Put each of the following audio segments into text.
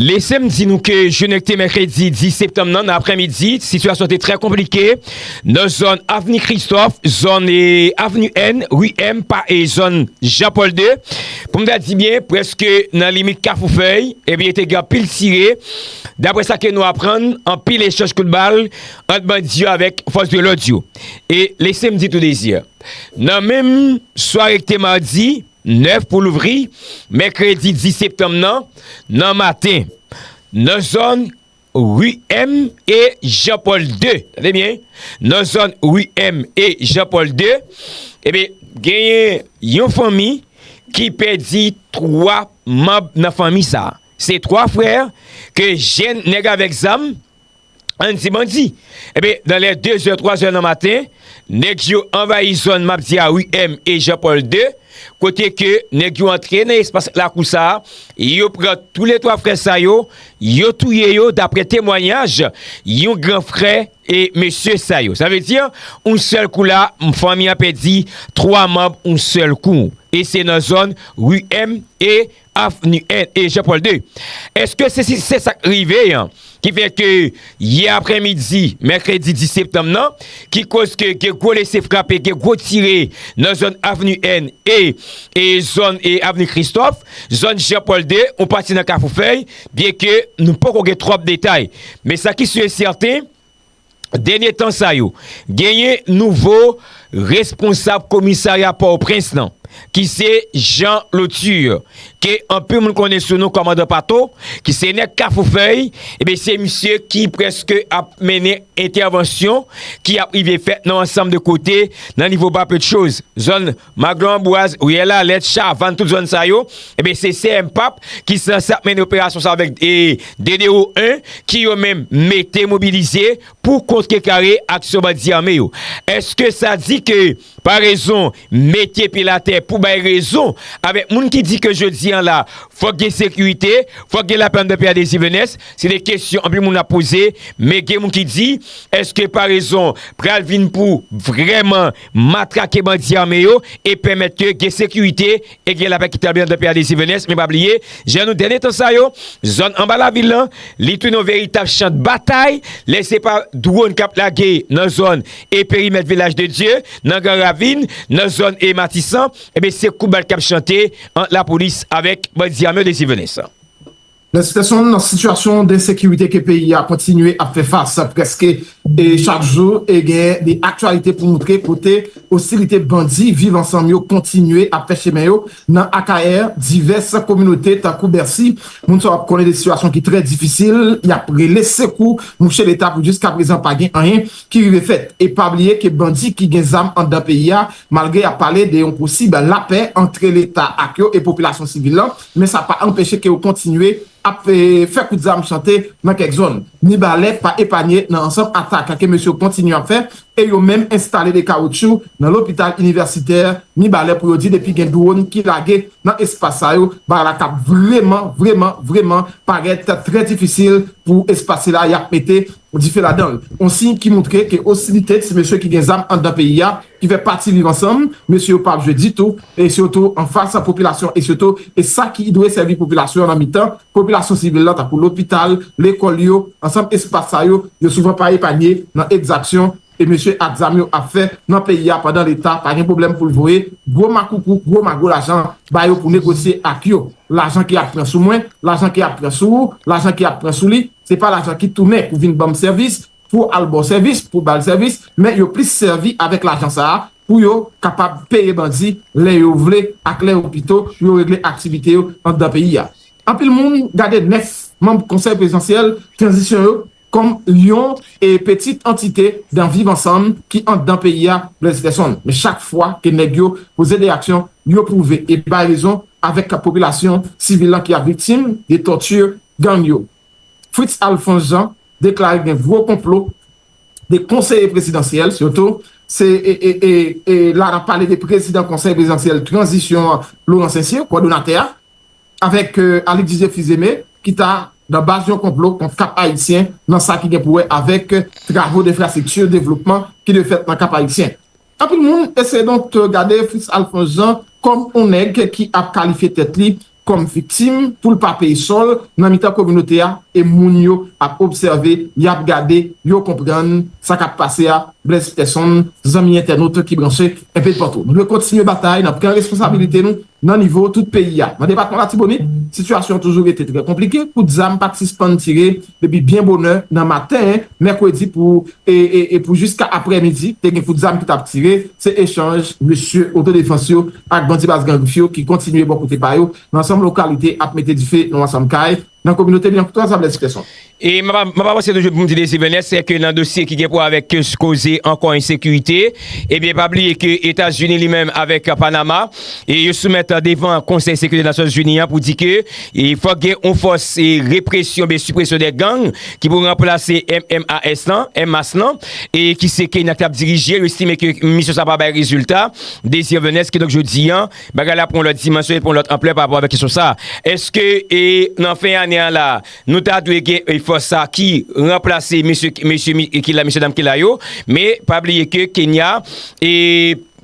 Lese m di nou ke jounen ki te mèkredi 10 septanm nan, nan aprèmidi, sitiyasyon te trè konplike nan zòn avni Kristòf, zòn avni N, ri M, pa e zòn Jan Pòl 2. Pou m ta di byen, prèske nan limit Kafou Fèy, ebyen te gen anpil tire. Daprè sa ke nou aprann, anpil echanj kout bal ant bandi yo avèk fòs de lòd yo. E lese m di tou Désir, nan menm sware ki te madi, 9 pou louvri mèkredi 10 septanm nan nan maten nan zòn ri M e Jan Pòl 2. Tande byen, nan zòn ri M e Jan Pòl 2, enben genyen yon fanmi ki pèdi 3 manb nan fanmi sa. Se 3 frè ke jèn nèg avèk zam Ann di bandi. Enben, nan lè dezè, twazè nan maten, nèg yo anvayi zòn m ap di a ri M e Jan Pòl 2, kote ke nèg yo antre nan espas lakou sa a, yo pran touletwa frè sa yo, yo touye yo daprè temwanyaj yon gran frè e mesye sa yo. Sa vle di, yon sèl kou la, fanmi an pèdi twa manb yon sèl kou. E se nan zòn ri M e. Avni 1 e Jean Paul ii. Eske se si se sak rive an ki fè ke yè aprè midi mèkredi 10 septanm nan ki koz ke gen gwo lese frape, gen gwo tire nan zòn avni 1 e e zòn e avni Kristòf, zòn Jean Paul ii, yon pati nan Kafoufèy, byenke nou poko gen twòp detay. Men sa ki si e sèten. Dènye tan sa yo, genyen nouvo responsab komisarya Pòtoprens lan, ki se Jean Lauture, ke anpil moun konnen sou non Kòmandan Pato, ki se nèg Kafoufèy, ebyen se misye ki prèske ap mennen entèvansyon ki ap rive fèt nan ansanm de kote nan nivo Bapedchoz, zòn. Maglo Ambroise, Riyèl Alèt, Chavann, tout zòn sa yo, enben se CMPAP ki sanse ap mennen operasyon sa avèk DDO 1 ki yo menm mete mobilize pou kontre kare aksyon bandi ame yo. Eske sa di ke parezon mete pil atè pou bay rezon avèk moun ki di ke jodi an la fòk gen sekirite, fòk gen lapè anndan peyi a Désir Venès? Se de kesyon anpil moun ap poze men gen moun ki di eske parezon pral vin pou vrèman matrake bandi ame yo e pèmèt ke gen sekirite e gen lapè ki tabli anndan peyi a Dessalines Venès, men pa bliye, jan nou dènye tan sa yo, zòn anba lavil lan, li tounen yon veritab chan de batay, lè se pa dwòn kap lage nan zòn e perimèt Vilaj de Dye, nan Gran Ravin, nan zòn e Matisan, enben se kout bal kap chante ant lapolis avèk bandi ame yo Dessalines Venès. Nan sitiyasyon nan sitiyasyon densekirite ke peyi a kontinye ap fè fas prèske chak jou e gen de aktyalite pou moutre kote ostilite bandi Viv Ansanm yo kontinye ap fè chemen yo nan Akayè divès kominote tankou Bèsi moun sa yo ap konnen de sitiyasyon ki trè difisil y ap rele sekou mouche leta pou jiskaprezan pa gen anyen ki rive fèt e pa bliye ke bandi ki gen zam anndan peyi a malgre y ap pale de yon posib lapè antre leta ak yo e popilasyon sivil lan men sa pa anpeche ke yo kontinye ap fè kout zam chante nan kèk zòn. Mibalè pa epanye nan ansanm atak ke mesye yo kontinye ap fè e yo menm enstale de kawotchou nan lopital inivèsitè Mibalè pou yo di depi gen dwòn ki lage nan espas sa yo bagay la kab vreman vreman vreman parèt trè difisil pou espas sila yap mete Dife ladan l, on siy ki moutre ke ostilite ti mesye ki gen zam anndan peyi a, ki fè pati Viv Ansanm, mesye yo pa ap jwe ditou, e sitou anfas popilasyon e sitou sa ki dwe sèvi popilasyon nan mitan popilasyon sivil la tankou lopital, lekòl yo, ansanm espas sa yo, yo souvan pa epanye nan ekzaksyon E mesye ak zam yo ap fè nan peyi a pandan leta pa gen pwoblèm pou l voye gwo makoukou, gwo mago lajan ba yo pou negosye ak yo. Lajan ki ap pran sou mwen, lajan ki ap pran sou ou, lajan ki ap pran sou li, se pa lajan ki tounen pou vin ban m sèvis, pou al ba w sèvis, pou ba l sèvis, men yo plis sèvi avèk lajan sa a pou yo kapab peye bandi lè yo vle ak lè yo pito pou yo regle aktivite yo anndan peyi a. Anpil moun gade 9 manm Konsèy Prezidansyèl Tranzisyon yo kòm yon petit antite dan viv ansanm ki andan peyi a Blaise Gerson men chak fwa ke nèg yo poze de aksyon yo pwouve e bay rezon avèk popilasyon sivil lan ki ap viktim de tòti gang yo Fritz Alphonse Jean deklare gen gwo konplo de konseye prezidansyèl sitou se e la nap pale de prezidan konsèy prezidansyèl tranzisyon an Laurent Saincyr kòdonatè a. avèk Alix Didier Fils-Aimé ki ta nan baz yon konplo kont Kap Ayisyen nan sa ki gen pou wè avèk travo denfrastrikti devlopman ki dwe fèt nan Kap Ayisyen. Anpil moun eseye donk gade Fritz Alphonse Jean kòm on nèg ki ap kalifye tèt li kòm viktim pou l pa peye sò l nan mitan kominote a e moun yo ap obsève, y ap gade, yo konprann sa k ap pase a Blaise Peson, zanmi entènot ki branche enpedpatou. Nou dwe kontinye batay nan pran responsabilite nou Nan nivo tout peyi a, nan depatman Latibonit, sitiyasyon an toujou rete trè konplike, kout zam pat sispann tire depi byen bonè nan maten mèkredi pou e pou jiska aprè midi te gen kout zam ki tap tire, se echanj mesye otodefans yo ak bandi Baz Gran Grif yo ki kontinye bò kote pa yo nan ansanm lokalite ap mete dife nan ansanm kay. nan kominote li an pou tout asanble di pèsonn. E m ap avanse toujou pou m di dezi benè se ke nan dosye ki gen pou wè avèk koze ankò ensekirite, ebyen pa bliye ke Etazini li menm avèk Panama e yo soumèt devan konsèy sekirite nasyonzini an pou di ke fòk gen yon fòs represyon oubyen sipresyon dè gang ki pou ranplase MMAS lan, MMAS lan, e ki se Kenya ki t ap dirije l, yo estime ke misyon sa pa bay rezilta, dezi benè se ke donk jodi an. Bagay la pran yon lòt dimansyon, li pran yon lòt anplè pa rapò avèk kesyon sa a. Èske nan fen ane an la a, nou ta dwe gen yon fòs sa a ki ranplase mesye ki la, mesye dam ki la yo? Men, pa bliye ke Kenya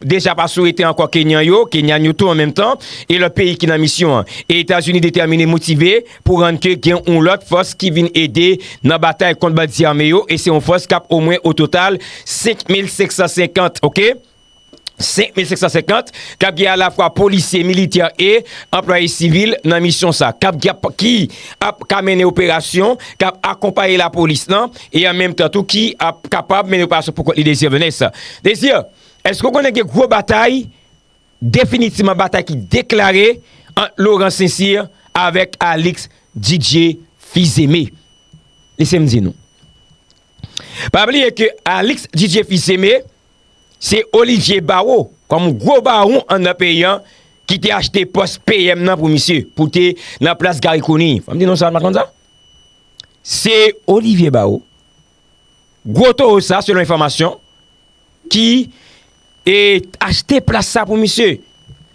deja pa sou rete ankò Kenyan yo, Kenyan yo tou an menm tan, e lòt peyi ki nan misyon an. E Etazini detèmine, motive pou rann ke gen yon lòt fòs ki vin ede nan batay kont bandi ame yo e se yon fòs k ap omwen ototal 5,550, ok? 5550 k ap gen alafwa polisye, militè e anplwaye sivil nan misyon sa k ap ki ap ka mennen operasyon k ap akonpaye lapolis lan e an menm tan tou ki ap kapab mennen operasyon pou kont li Desir Vanessa Desir èske ou konnen gen gwo batay definitivman batay ki deklare ant Laurent Sincir avèk Alix Didier Fils-Aimé lese m di nou pa bliye ke Alix Didier Fils-Aimé Se Olivier Barro, kòm gwo bawon anndan peyi an, ki te achte pòs PM nan pou misye, pou te nan plas Garry Conille. Fò m di nou sa, nou pa t konn sa? Se Olivier Barro, gwo towo sa, selon enfòmasyon, ki te achte plas sa pou misye. Sa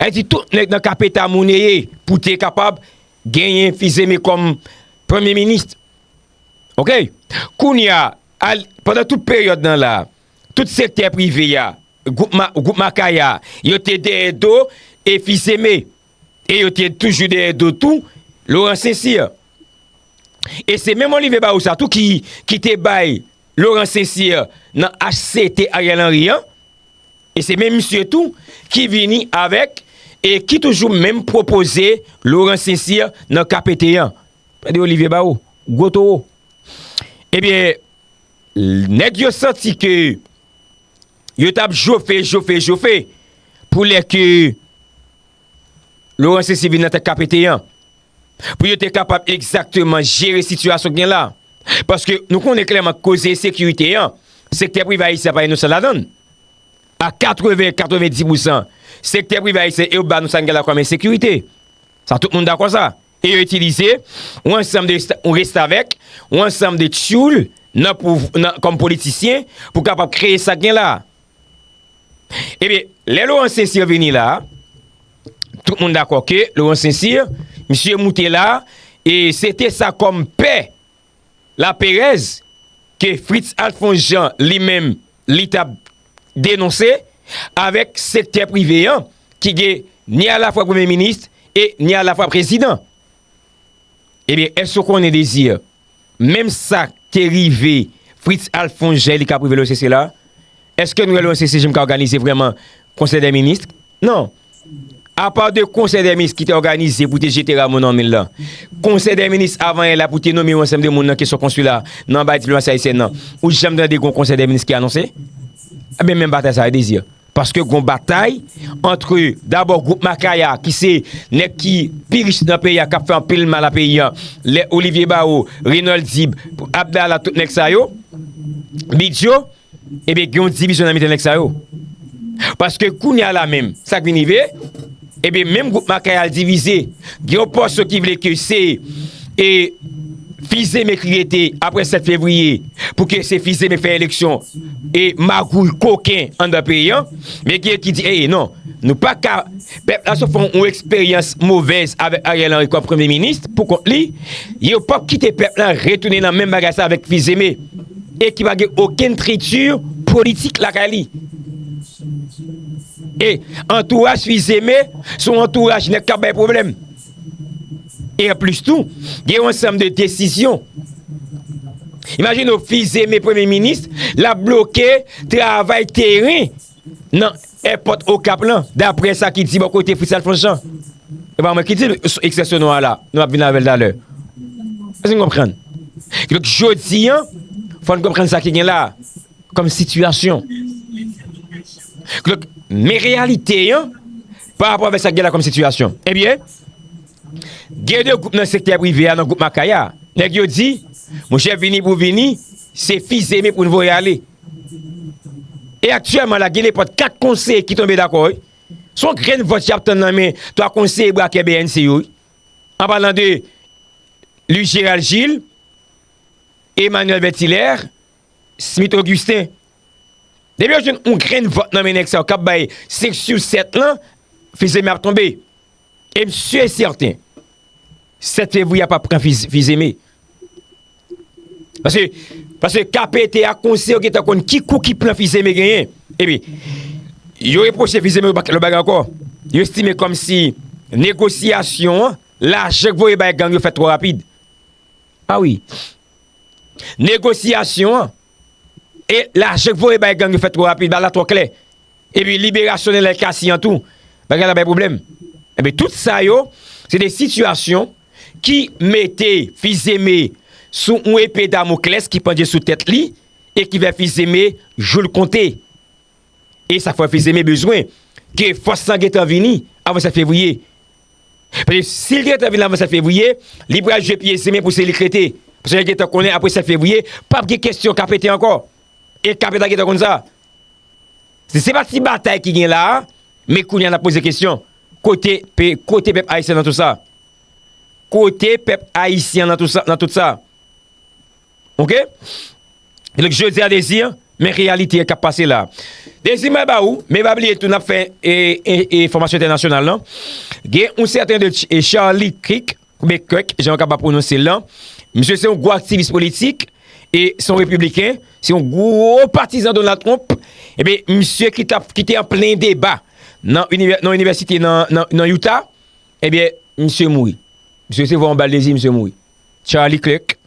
di tout nèg nan Capeta monneye pou te kapab genyen Fils-Aimé kòm Premye Minis. Ok! Kounye a, pandan tout peryòd nan la, tout sektè prive a, gwoup Makaya a, yo te dèyè do e Fils-Aimé. E yo te toujou dèyè do tou Laurent Saint-Cyr. E se menm Olivier Barrou sa tou ki te bay Laurent Saint-Cyr nan HCT Ariel Henry an. E se menm misye tou ki vini avèk e ki toujou menm pwopoze Laurent Saint-Cyr nan KPT an. Tande Olivier Barrou, gwo towo. Ebyen. Nèg yo santi ke yo t ap jofe, jofe, jofe pou lè ke Laurent Cesir vin nan tèt KPT an. Pou yo te kapab egzakteman jere sitiyasyon ki gen la. Paske nou konnen klèman koze ensekirite an, sektè prive ayisyen pa inosan ladan. A 80, 90 pousan, sektè prive ayisyen yo ba nou sa n gen la kòm ensekirite. Sa tout moun dakò sa. e yo itilize yon ansanm de restavèk, yon ansanm de tyoul nan pouv, nan, kòm politisyen pou kapab kreye sa k gen la a. Ebyen, lè Laurent Saint-Cyr vini la a, tout moun dakò ke Laurent Saint-Cyr, misye moute la a, e se te sa kòm pè Laperèz ke Fritz Alphonse Jean li menm li t ap denonse avèk sektè prive an ki gen ni alafwa premye minis e ni alafwa prezidan. Ebyen èske ou konnen Desir, menm sa te rive Fritz Alphonse Jean e li k ap rive l osese la? Èske nou wè l osese jnm ka òganize vrèman konsèy dè minis? Non. Apa de konsèy dè minis ki te òganize pou te jete Rameau nan min lan, konsèy dè minis avan yè la pou te nome yon ansanm de moun nan kesyon konsila nan bay diplomasi ayisyèn nan, ou janm tande gon konsèy dè minis ki anonse? Enben menm batay sa yo dezir. Paske gon batay antre dabò gwoup Makaya ki se nèg ki pi rich nan peyi a kap fè anpil mal a peyi an, lè Olivier Barreau, Renold Dib, Abdala tout nèg sa yo, Bidyo. Ebyen gen yon divizyon nan mitan nèg sa yo. Paske kounye a la menm, sa k vin rive, ebyen menm gwoup Makaya al divize. Gen yon pòsyon ki vle ke se e fizeme e kriyete apre 7 fevriye pou ke se fizeme fè eleksyon e magouy koken anndan peyi an. Men gen ki di ee non, nou pa ka, pèp la sou fon yon eksperyans movèz avèk Ariel Henry kòm premye minis pou kont li, yo pap kite pèp la retounen nan menm bagay sa avèk fizeme. e ki pa gen okenn trikti politik lakay li. E antouraj Fils-Aimé se yon antouraj nèt k ap bay pwoblèm. E anplis tou, gen yon ansanm de desizyon. Imajine w Fils-Aimé Premye Minis, l ap bloke travay teren. nan èpòt Okap lan, daprè sa ki di bò kote Fritz Alphonse Jean. E pa mwen ki di l, ekspresyon nou an la, nou ap vin avè l talè. Èske nou konprann? Ki donk jodi an, fò n konprann sa ki gen la a, kòm sitiyasyon. Ki donk, men reyalite an, pa rapò avèk sa ki gen la kòm sitiyasyon. Ebyen, gen de gwoup nan sektè prive a, nan gwoup Makaya, nèg yo di, monchè vini pou vini, se fizeme pou n voye ale. E aktyèman la gen nepòt 4 konseye ki tonbe dakò wi. Se yon grenn vòt yap tann nan men 3 konseye brakè bnc yo wi. An palan de Louis Gérald Gilles, Emmanuel Bertilaire, Smith Augustin. Depi yo jwenn yon grenn vòt nan men nèg sa yo kap bay 5 sou 7 lan, fizeme ap tonbe. E m su e sèten, 7 fevriye a p ap pran fizeme. Paske, paske KPT a konsiye yo gen tan konn ki kou ki plan fizeme genyen. E pi, yo repwoche fizeme yon bagay ankò. Yo estime kòm si negosyasyon an, lajan k voye bay gang yo fèt twò rapid. A wi. Negosyasyon an, E lajan k voye bay gang yo fèt twò rapid, bal la twò klè. Epi liberasyon Nenel Cassy an tou, bagay la bay pwoblèm. Enben tout sa yo, se de sitiyasyon ki mete Fils-Aimé sou yon epe Damoclès ki pandye sou tèt li e ki fè Fils-Aimé jou l konte. E sa frè Fils-Aimé bezwen ke fòs lan gentan vini avan 7 fevriye. Paske si li te gentan vini avan 7 fevriye, li pral jwe pye zin men pou se li k rete. Paske yo gentan konnen apre 7 fevriye, p ap gen kesyon ka pete ankò. E k ap pete a gentan konn sa. Se se pa ti batay ki gen la a, men kounye a n ap poze kesyon. Kote pe, kote pèp ayisyen nan tou sa? Kote pèp ayisyen nan tou sa, nan tout sa? Ok Donk jodi a Dezi men reyalite kap pase la Dezi mwen ba ou men pa bliye tou nap fè e fòmasyon entènasyonal lan gen yon sèten de Charlie Kirk oubyen Kirk jan yo kapab pwononse l lan misye se yon gwo aktivis politik e se yon repibliken se yon gwo patizan Donald Trump ebyen misye ki tap ki te an plen deba nan inivèsite nan Utah ebyen misye mouri misye resevwa yon bal Dezi misye mouri. Charlie Clerk,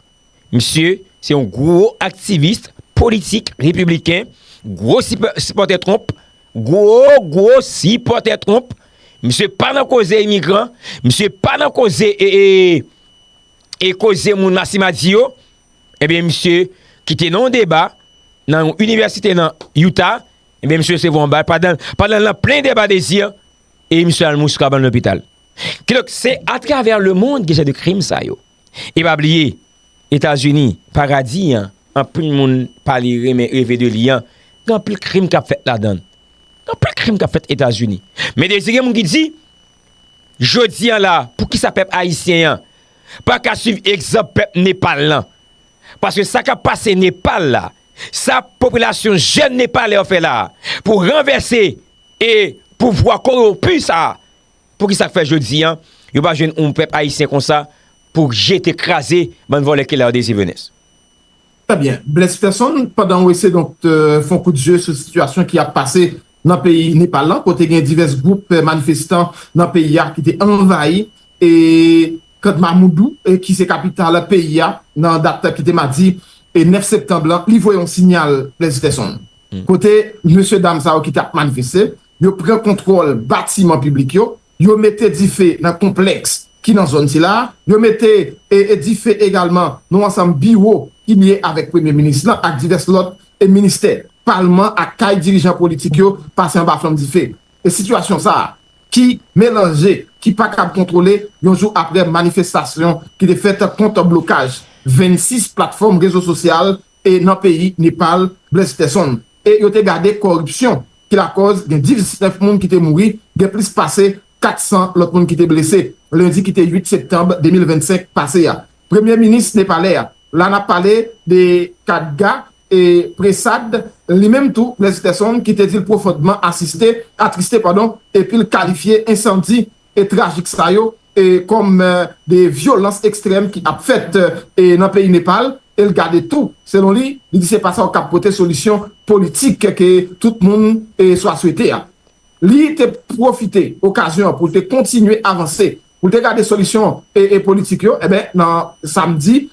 misye se yon gwo aktivis politik repibliken, gwo sipòtè Trump, gwo gwo sipòtè Trump, misye pa nan koze imigran, misye pa nan koze e koze moun lasimadi yo, ebyen misye ki te nan yon deba nan yon inivèsite nan Utah, ebyen misye resevwa yon bal pandan l nan plen deba dezi, e misye al mouri sou kabann lopital. Kidonk, se atravè lemonn gen jan de krim sa yo. E pa bliye, Etazini, paradi an, anpil moun pale, renmen, reve de li an, gen anpil krim k ap fèt ladan l. Gen anpil krim k ap fèt Etazini. Men dezi gen moun ki di, jodi an la, poukisa pèp ayisyen an pa ka suiv egzanp pèp Nepal lan? Paske sa k ap pase Nepal la, sa popilasyon jèn Nepalè yo fè la a pou ranvèse e pouvwa kowonpi sa a, Pouki sak fè jodi an yo pa jwenn oun pèp ayisyen konsa pou jete kraze bann vòlè kile a dezi venes. Trè byen. Bless Ferson, pandan w ese donk fè yon kout zye sou sitiyasyon ki ap pase nan peyi Nepal lan kote gen divès gwoup manifestan nan peyi a ki te anvayi e Kathmamoudou ki se kapital peyi a nan dat ki te madi 9 septanb lan, li voye yon sinyal Bless Ferson kote mesye dam sa yo ki t ap manifeste Yo pran kontwòl batiman piblik yo, yo mete dife nan konplèks ki nan zòn sila a, yo mete dife egalman nan ansanm biwo ki lye avèk Premye Minis lan ak divès lòt ministè, palman ak kay dirijan politik yo pase anba flanm dife. E sitiyasyon sa a ki melanje, ki pa kab kontwole yon jou aprè manifestasyon ki te fèt kont blokaj 26 platfòm rezo sosyal, e nan peyi Nepal blese pèsonn e yo te gade koripsyon ki lakòz gen 19 moun ki te mouri, gen plis pase 400 lòt moun ki te blese lendi ki te 8 septanb 2025 pase a. Premye minis nepalè a, la n ap pale de Khadga e Prasad, li menm tou blese pèsonn ki te di l pwofondman asiste, atriste padon epi l kalifye ensandi e trajik sa yo e kòm de vyolans ekstrèm ki ap fèt e nan peyi Nepal e l gade tou selon li li di se pa sa yo k ap pote solisyon politik ke tout moun e swa swete a. Li te pwofite okazyon an pou l te kontinye avanse pou l te gade solisyon e e politik yo enben nan samdi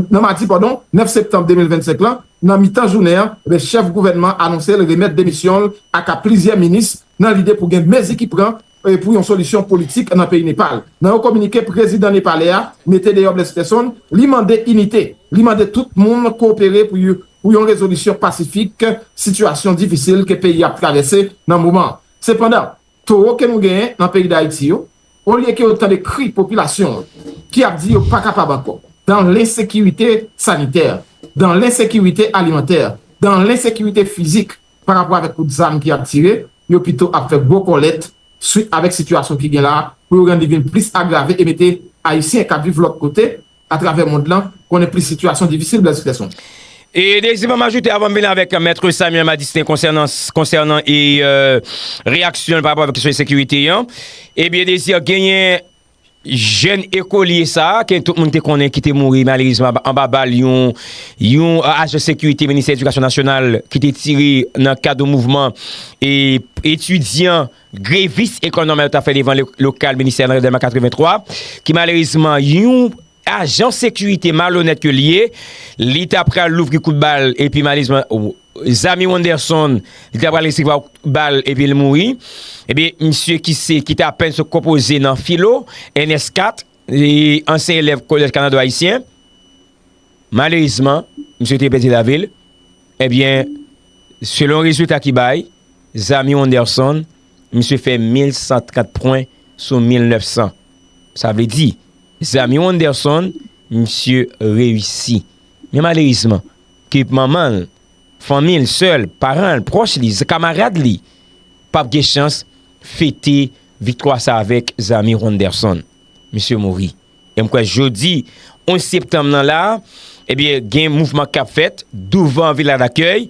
nan madi padon 9 septanm 2025 lan nan mitan jounen an enben chèf gouvènman anonse l remèt demisyon l aka plizyè minis nan lide pou gen mezi ki pran pou yon solisyon politik nan peyi Nepal. Nan yon kominike prezidan nepalè a mete deyò Bless Person, li mande inite, li mande tout moun kowopere pou yon rezolisyon pasifik sitiyasyon difisil ke peyi a ap travèse nan moman an. Sepandan, towo ke nou genyen nan peyi Dayiti yo, olye ke yo tande kri popilasyon an ki ap di yo pa kapab ankò, dan lensekirite sanitè, dan lensekirite alimantè, dan lensekirite fizik, pa rapò avèk kout zam ki ap tire, yo pito ap fè gwo kòlèt swit avèk sitiyasyon ki gen la a pou yo rann li vin plis agrave e mete Ayisyen k ap viv lòt kote atravè mond lan konnen plis sitiyasyon difisil Blaise Peterson. E Désir m ap ajoute avan m vini avèk Maitre Samuel Madistin konsènan konsènan e reyaksyon l pa rapò avèk kesyon ensekirite an, ebyen Désir genyen. Jèn ekolye sa a, ke tout moun te konnen ki te mouri malerezman anba bal yon yon ajan sekirite ministè edikasyon nasyonal ki te tire nan kad yon mouvman etidyan grevis Ecole Normale yo t ap fè devan lokal ministè a nan delma 83, ki malerezman yon. Ajan sekirite malonèt ke li ye, li ta pral louvri kout bal epi malezman Zamy Wanderson li ta pral resevwa kout bal epi li mouri. Ebyen misye ki se ki te apèn sot konpoze nan filo, ns 4, li ansyen elèv kolèj Kanado Ayisyen. Malerezman misye te pèdi lavi l. Ebyen selon rezilta ki bay, Zamy Wanderson misye fè 1130 pwen sou 1900. Sa vle di. Zanmi Wonderson, misye reyisi. Men malerizman, ke manman l, fanmi l, sè l, paran l, pwòch li, kamarad li, pa p gen chans fete viktwa sa avèk Zanmi Wonderson. Misye mouri. E m kwè jodi 11 septanm nan la, ebyen gen mouvman k ap fèt douvan Vila Dakèy,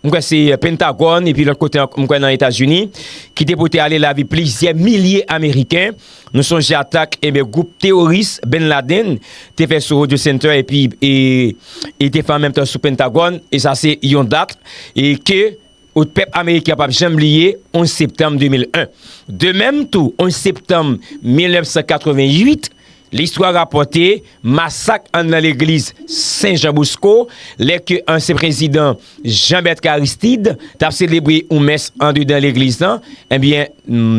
M kwè se Pentagòn epi lòt kote ankò, m kwè nan Etazini, ki te pote ale lavi plizyè milye Ameriken. Nou sonje atak enben gwoup teworis Ben Laden te fè sou Rogers Center epi e te fè an menm tan sou Pentagòn. E sa se yon dat e ke pèp Ameriken an pap janm bliye, 11 septanm 2001. De menm tou, 11 septanm 1988. Listwa rapòte masak anndan legliz Sen Jan Bosko lè ke ansyen prezidan Jean Bertrand Aristide t ap selebre yon mès andedan legliz lan, ebyen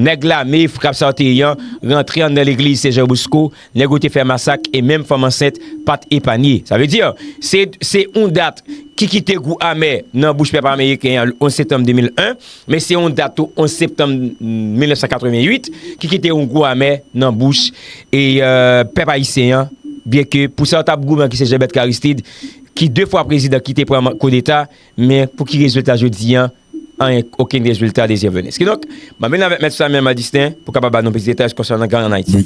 nèg lame Frap sa yo te yan rantre anndan legliz Sen Jan Bosko, nèg yo te fè masak e menm fanm ansent pa t epanye. Sa vle di, se yon dat ki kite gou amè nan bouch pèp ameriken an le 11 septanm 2001. Men se yon dat tou 11 septanm 1988 ki kite yon gou amè nan bouch pèp ayisyen an, byen ke pou sa yo tap goumen ki se Jean-Bertrand Aristide ki 2 fwa prezidan ki te pran koudeta, men pou ki rezilta jodi an, anyen, okenn rezilta de zè vènes. Kidonk, map vin avèk Mèt Samuel Madistin pou kapab ba nou plis detay konsènan gang an Ayiti.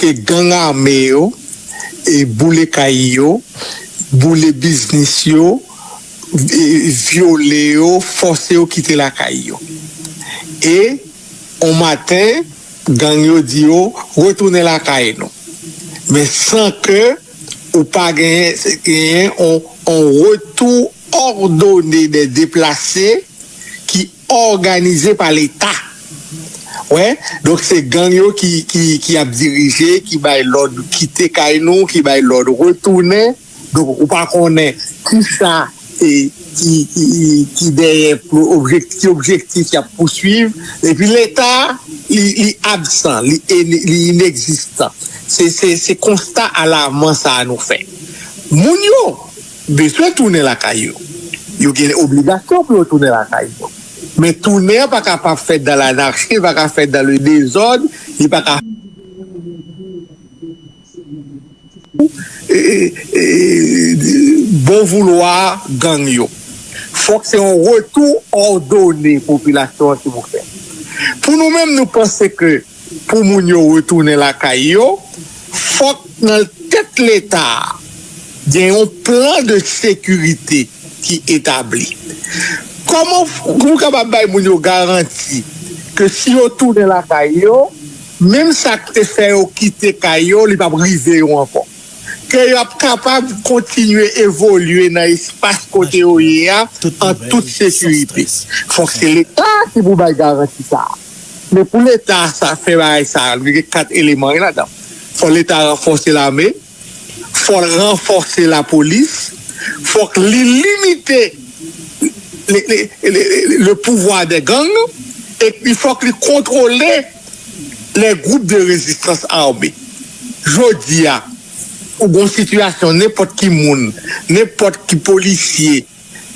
ke gang ame yo boule kay yo, boule biznis yo, vyole yo, fòse yo kite lakay yo. E on maten, gang yo di yo, retounen lakay nou. Men san ke ou pa genyen on retou òdone dè deplase ki. òganize pa leta wè donk se gang yo ki ap dirije ki bay lòd kite kay nou ki bay lòd retounen donk ou pa konnen kisa ki dèyè ki objektif yap pouswiv epi leta li absan li inekzistan se konsta alaman sa nou fè moun yo. Bezwen tounen lakay yo. Yo gen obligasyon pou yo tounen lakay yo. Men tounen an pa ka pa fèt dan lanarchi, li pa ka fèt dan le dezòd, li pa ka. Bon voulwa gang yo. Fòk se yon retou òdone popilasyon an ki pou fèt. Pou nou menm nou panse ke. Pou moun yo retounen lakay yo, fòk nan tèt Leta a gen yon plan de sekirite ki etabli. Kòman pou kapab bay moun yo garanti ke si yo tounen lakay yo, menm sa k te fè yo kite kay yo, li p ap rive yo ankò. Ke y ap kapab kontinye evolye nan espas kote yo ye a an tout sekirite. Fòk se Leta ki pou bay garanti sa a. Men pou leta sa fè bagay sa li gen 4 eleman wi ladan fò leta ranfòse lame fòl ranfòse lapolis fòk li limite le pouvwa dè gang epi fòk li kontwole lè gwoup de rezistans ame jodi a ou gon sitiyasyon nenpòt ki moun nenpòt ki polisye.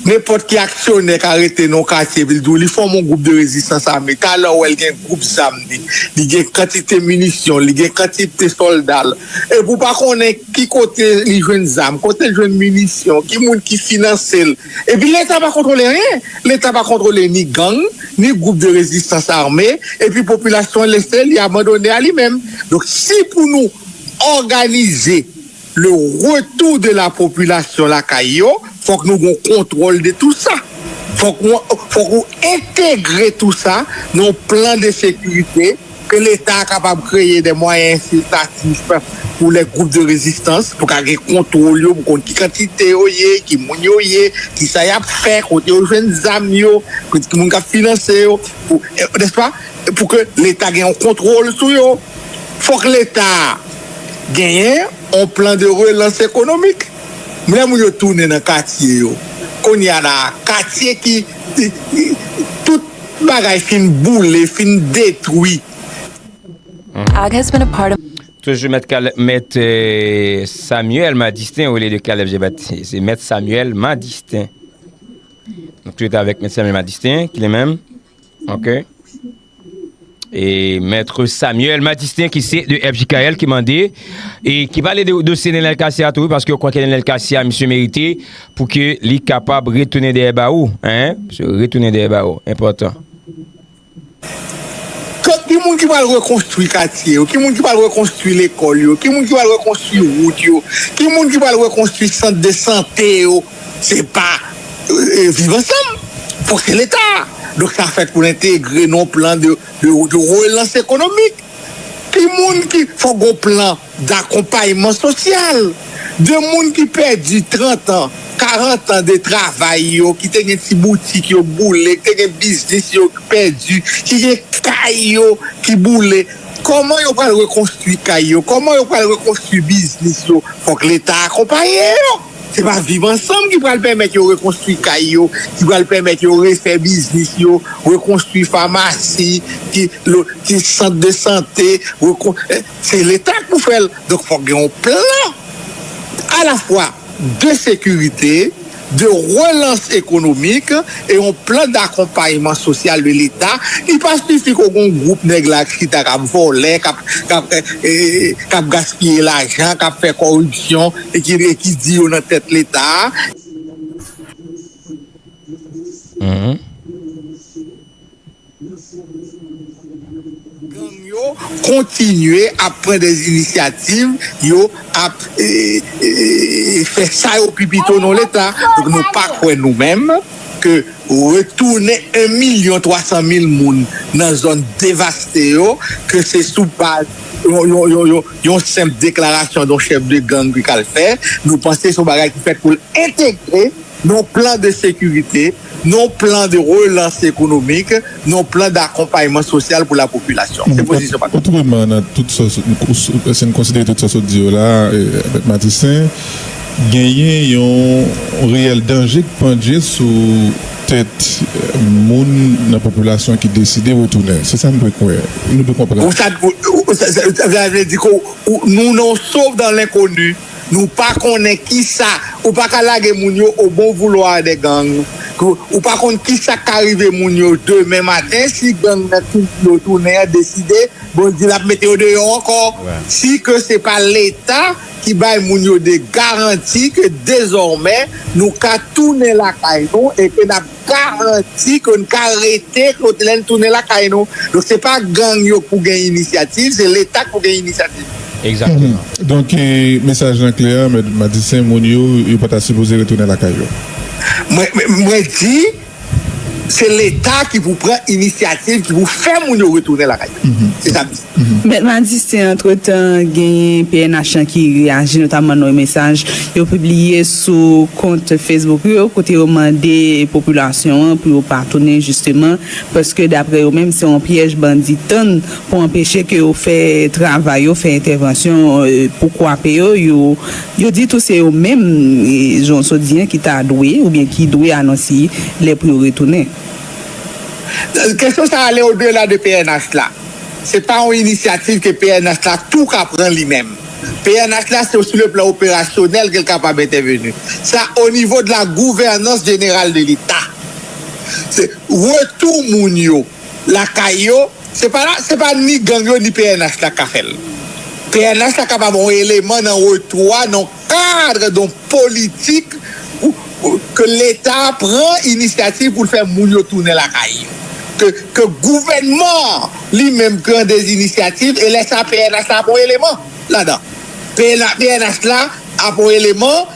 Nenpòt ki aksyonè ka rete nan yon katye epi l di w li fòme yon gwoup de rezistans ame, talè w wè l gen gwoup zam li, li gen kantite minisyon l, li gen kantite sòlda l, epi w pa konnen ki kote li jwenn zam, kote l jwenn minisyon, ki moun ki finanse l. Epi Leta pa kontwole anyen! Leta pa kontwole ni gang, ni gwoup de rezistans ame, epi popilasyon an lese li abandone a li menm. Donk si pou nou òganize Le retour de la population lakay yo, fok nou gon kontwòl de tou sa. Fok ou fok ou entegre tou sa nan yon plan de sekirite ke leta a kapab kreye de mwayen ensiltatif pou les groupes de résistance pou ka gen kontwòl yo pou konn ki kantite yo ye, ki moun yo ye, ki sa yap fè, kote yo jwenn zam yo, ki moun kap finanse yo pou nèspa pou ke leta gen yon kontwòl sou yo. Fòk leta genyen on plan de relans ekonomik. Lè moun yo tounen nan katye yo, kounye a la a, katye ki tout bagay fin boule, fin detwi. Toujou mèt Caleb mèt Samuel Madistin olye de Caleb Jean Baptiste se mèt Samuel Madistin nou toujou ta avèk mèt Samuel Madistin ki li menm ok. E Maitre Samuel Madistin ki se de FJKL ki mande e ki pale de dosye Nenel Cassy a tou wi paske yo kwè ke Nenel Cassy a misye merite pou ke li kapab retounen dèyè bawo hein retounen dèyè bawo enpòtan. Ki moun ki pral rekonstwi katye yo, ki moun ki pral rekonstwi lekòl yo, ki moun ki pral rekonstwi wout yo, ki moun ki pral rekonstwi sant de sante yo. Se pa viv ansanm fok se leta donk sa fèt pou l entegre nan yon plan de relans ekonomik ki moun ki fok gon plan dakonpayman sosyal de moun ki pèdi 30 an 40 an de travay yo ki te gen ti boutik yo boule ki te gen biznis yo ki pèdi ki gen kay yo ki boule kòman yo pral rekonstwi kay yo kòman yo pral rekonstwi biznis yo fok leta akonpaye yo. Se pa viv ansanm ki pral pèmèt yo rekonstwi kay yo, ki pral pèmèt yo refè biznis yo, rekonstwi famasi, ki sant de sante, se leta k pou fè l. Donk fòk gen yon plan alafwa de sekirite, de relans ekonomik e yon plan dakonpayman sosyal de leta. Li pa sifi ke w gen yon gwoup nèg la k chita k ap vòlè, k ap gaspiye lajan, k ap fè kòripsyon. E ki vre ki di yo nan tèt leta a. Gang yo kontinye ap pran de inisyativ yo ap fè sa yo pi pito non leta donk nou pa kwè nou menm ke retounen 1 milyon 300 mil moun nan zòn devaste yo ke se sou baz yon Yon senp deklarasyon yon chèf de gang ki kal fè, nou panse se yon bagay ki fèt pou l entegre nan yon plan de sekirite, nan yon plan de relans ekonomik, nan yon plan dakonpayman sosyal pou lapopilasyon. Se pozisyon pa nou. Otreman, nan tout sa w, si n konsidere tout sa w sot di yo la a, Mèt Matistin, genyen yon reyèl danje ki pandje sou. tèt moun nan popilasyon ki deside retounen. Se sa m dwe kwè. Nou dwe konprann. Sa vle di ke nou nan yon sof dan lenkoni, nou pa konnen kisa, ou pa ka lage moun yo o bon voulwa de gang, ou pa konn kisa k ka rive moun yo demen maten si gang nan ki di yo tounen an deside, bon, di l ap mete yo deyò ankò. Si ke se pa Leta. ki bay moun yo de garanti ke dezòmè nou ka tounen lakay nou e ke nap garanti ke n ka rete lè n tounen lakay nou. Donk se pa gang yo k pou gen inisyativ, se leta k pou gen inisyativ. Egzakteman. Donk mesaj lan klè, Mèt Madistin, moun yo, yo pa ta sipoze retounen lakay yo. Mwen di, Se leta ki pou pran inisyativ, ki pou fè moun yo retounen lakay yo. Se sa m di. Mèt Madistin, antretan, genyen pnh lan ki reyaji, notamman nan yon mesaj yo pibliye sou kont Facebook yo, kote yo mande popilasyon an pou yo pa tounen jisteman, paske daprè yo menm se yon pyèj bandi tann pou anpeche ke yo fè travay yo, fè entèvansyon pou kwape yo. Yo di tou se yo menm, jan w sot di an, ki ta dwe, oubyen ki dwe anons y lè pou yo retounen. Kesyon sa ale odela de pnh la. Se pa yon inisyativ ke pnh la tou ka pran li menm. Pnh la se sou le plan operasyonèl ke l kapab entèveni. Sa o nivo de la gouvènans jeneral de leta. Se retou moun yo. lakay yo se pa la se pa ni gang yo ni pnh la ka fèl pnh la kapab yon eleman nan retou a nan kadre don politik ke leta pran inisyativ poul fè moun yo tounen lakay yo ke ke gouvènman an li menm pran de inisyativ e lè sa pnh la ap yon eleman ladan pnh la ap yon eleman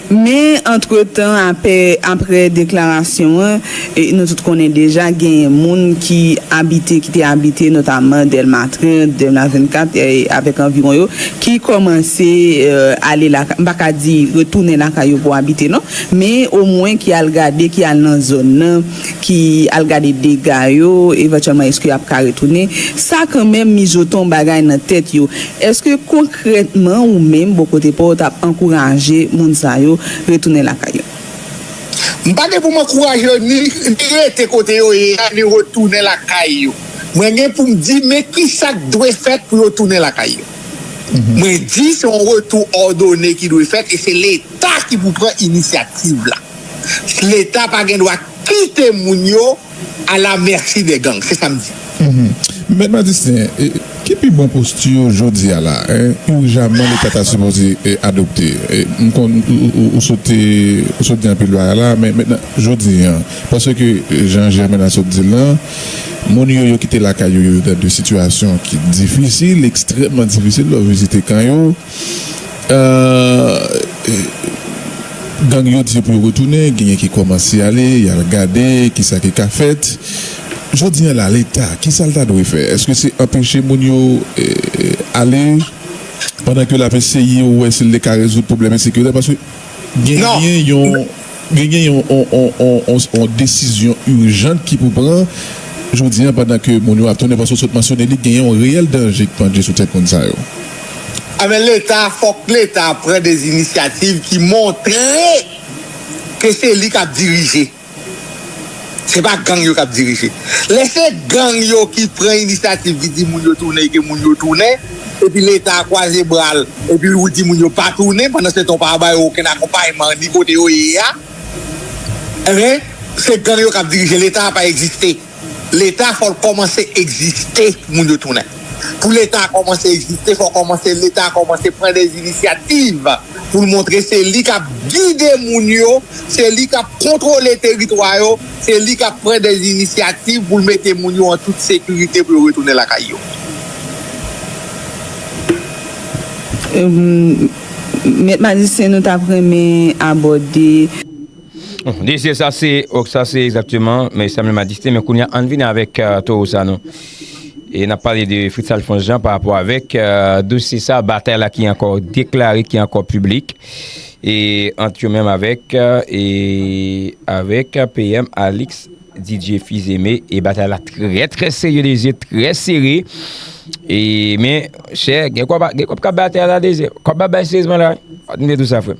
Men, antretan, apre deklarasyon an, nou tout konnen deja genyen moun ki abite, ki te abite notaman Dèlma 30, Dèlma 24 avèk anviwon yo, ki kòmanse ale lakay, m pa ka di retounen lakay yo pou abite non, men omwen ki al gade, ki al nan zòn nan. ki al gade dega yo evantyèlman eske yap ka retounen sa kanmenm mijote yon bagay nan tèt yo eske konkrètman ou menm bò kote paw tap ankouraje moun sa yo retounen lakay yo? M pa gen pou m ankouraje yo ni rete kote yo ye a ni retounen lakay yo mwen gen pou m di men kisak dwe fèt pou yo tounen lakay yo mwen di se yon retou òdone ki dwe fèt e se leta ki pou pran inisyativ la. Leta pa gen dwa kite moun yo a la mèsi dè gang, se sa m di. Mèt Madistin, ki pi bon posti ou jodi a la a, irijaman Leta ta sipoze adopte? M konn ou sot di anpil bagay la a, men mèt nan jodi an, paske jan Jèmena sot di l lan, moun yo yo kite lakay yo, yo nan de sitiyasyon ki difisil, ekstrèmman difisil, lè w vizite kan yo, Gang yo di yo pou yo retounen, genyen ki kòmanse ale, y al gade ki sa ki ka fèt. Jodi an la, Leta, ki sa l ta dwe fè? Èske se anpeche moun yo ale pandan ke l ap eseye wè si l te ka rezoud pwoblèm ensekirite? Paske genyen yon. Gen gen yon desizyon urgent ki pou pran jodi an pandan ke moun yo ap tounen paske w sot mansyone li gen yon reyèl danje ki pandje sou tèt moun sa yo. Enben leta fòk leta pran des initiatives ki montre ke se li kap dirije. Se pa gang yo kap dirije. Lè se gang yo ki pran inisyativ ki di moun yo tounen e ke moun yo tounen, epi leta a kwaze bra l, epi ou di moun yo pa tounen, pandan se tan ou pa ba yo okenn akonpayman ni kote yo ye a, enben se gang yo kap dirije. Leta a pa egziste. Leta fò l kòmanse egziste pou moun yo tounen. Pou leta kòmanse egziste fò kòmanse leta kòmanse pran des initiative poul montre se li kap gide moun yo se li kap kontwole teritwa yo se li kap pran des initiative poul mete moun yo an tout sekirite pou yo retounen lakay yo Mèt majisyen nou tap renmen abòde. Desir sa se ok sa se exactement men sa menm a distri men kounye a ann vini avèk towo sa nou e nap pale de Fritz Alphonse Jean pa rapò avèk dosye sa batay la ki ankò deklare ki ankò piblik e ant yo menm avèk e avèk PM Alix Didier Fils Aimé e batay la trè trè serye Desir trè sere e men chè gen kòb gen kòb kap batay la Desir kòb ap bay serezman la pa tande tou sa frèm.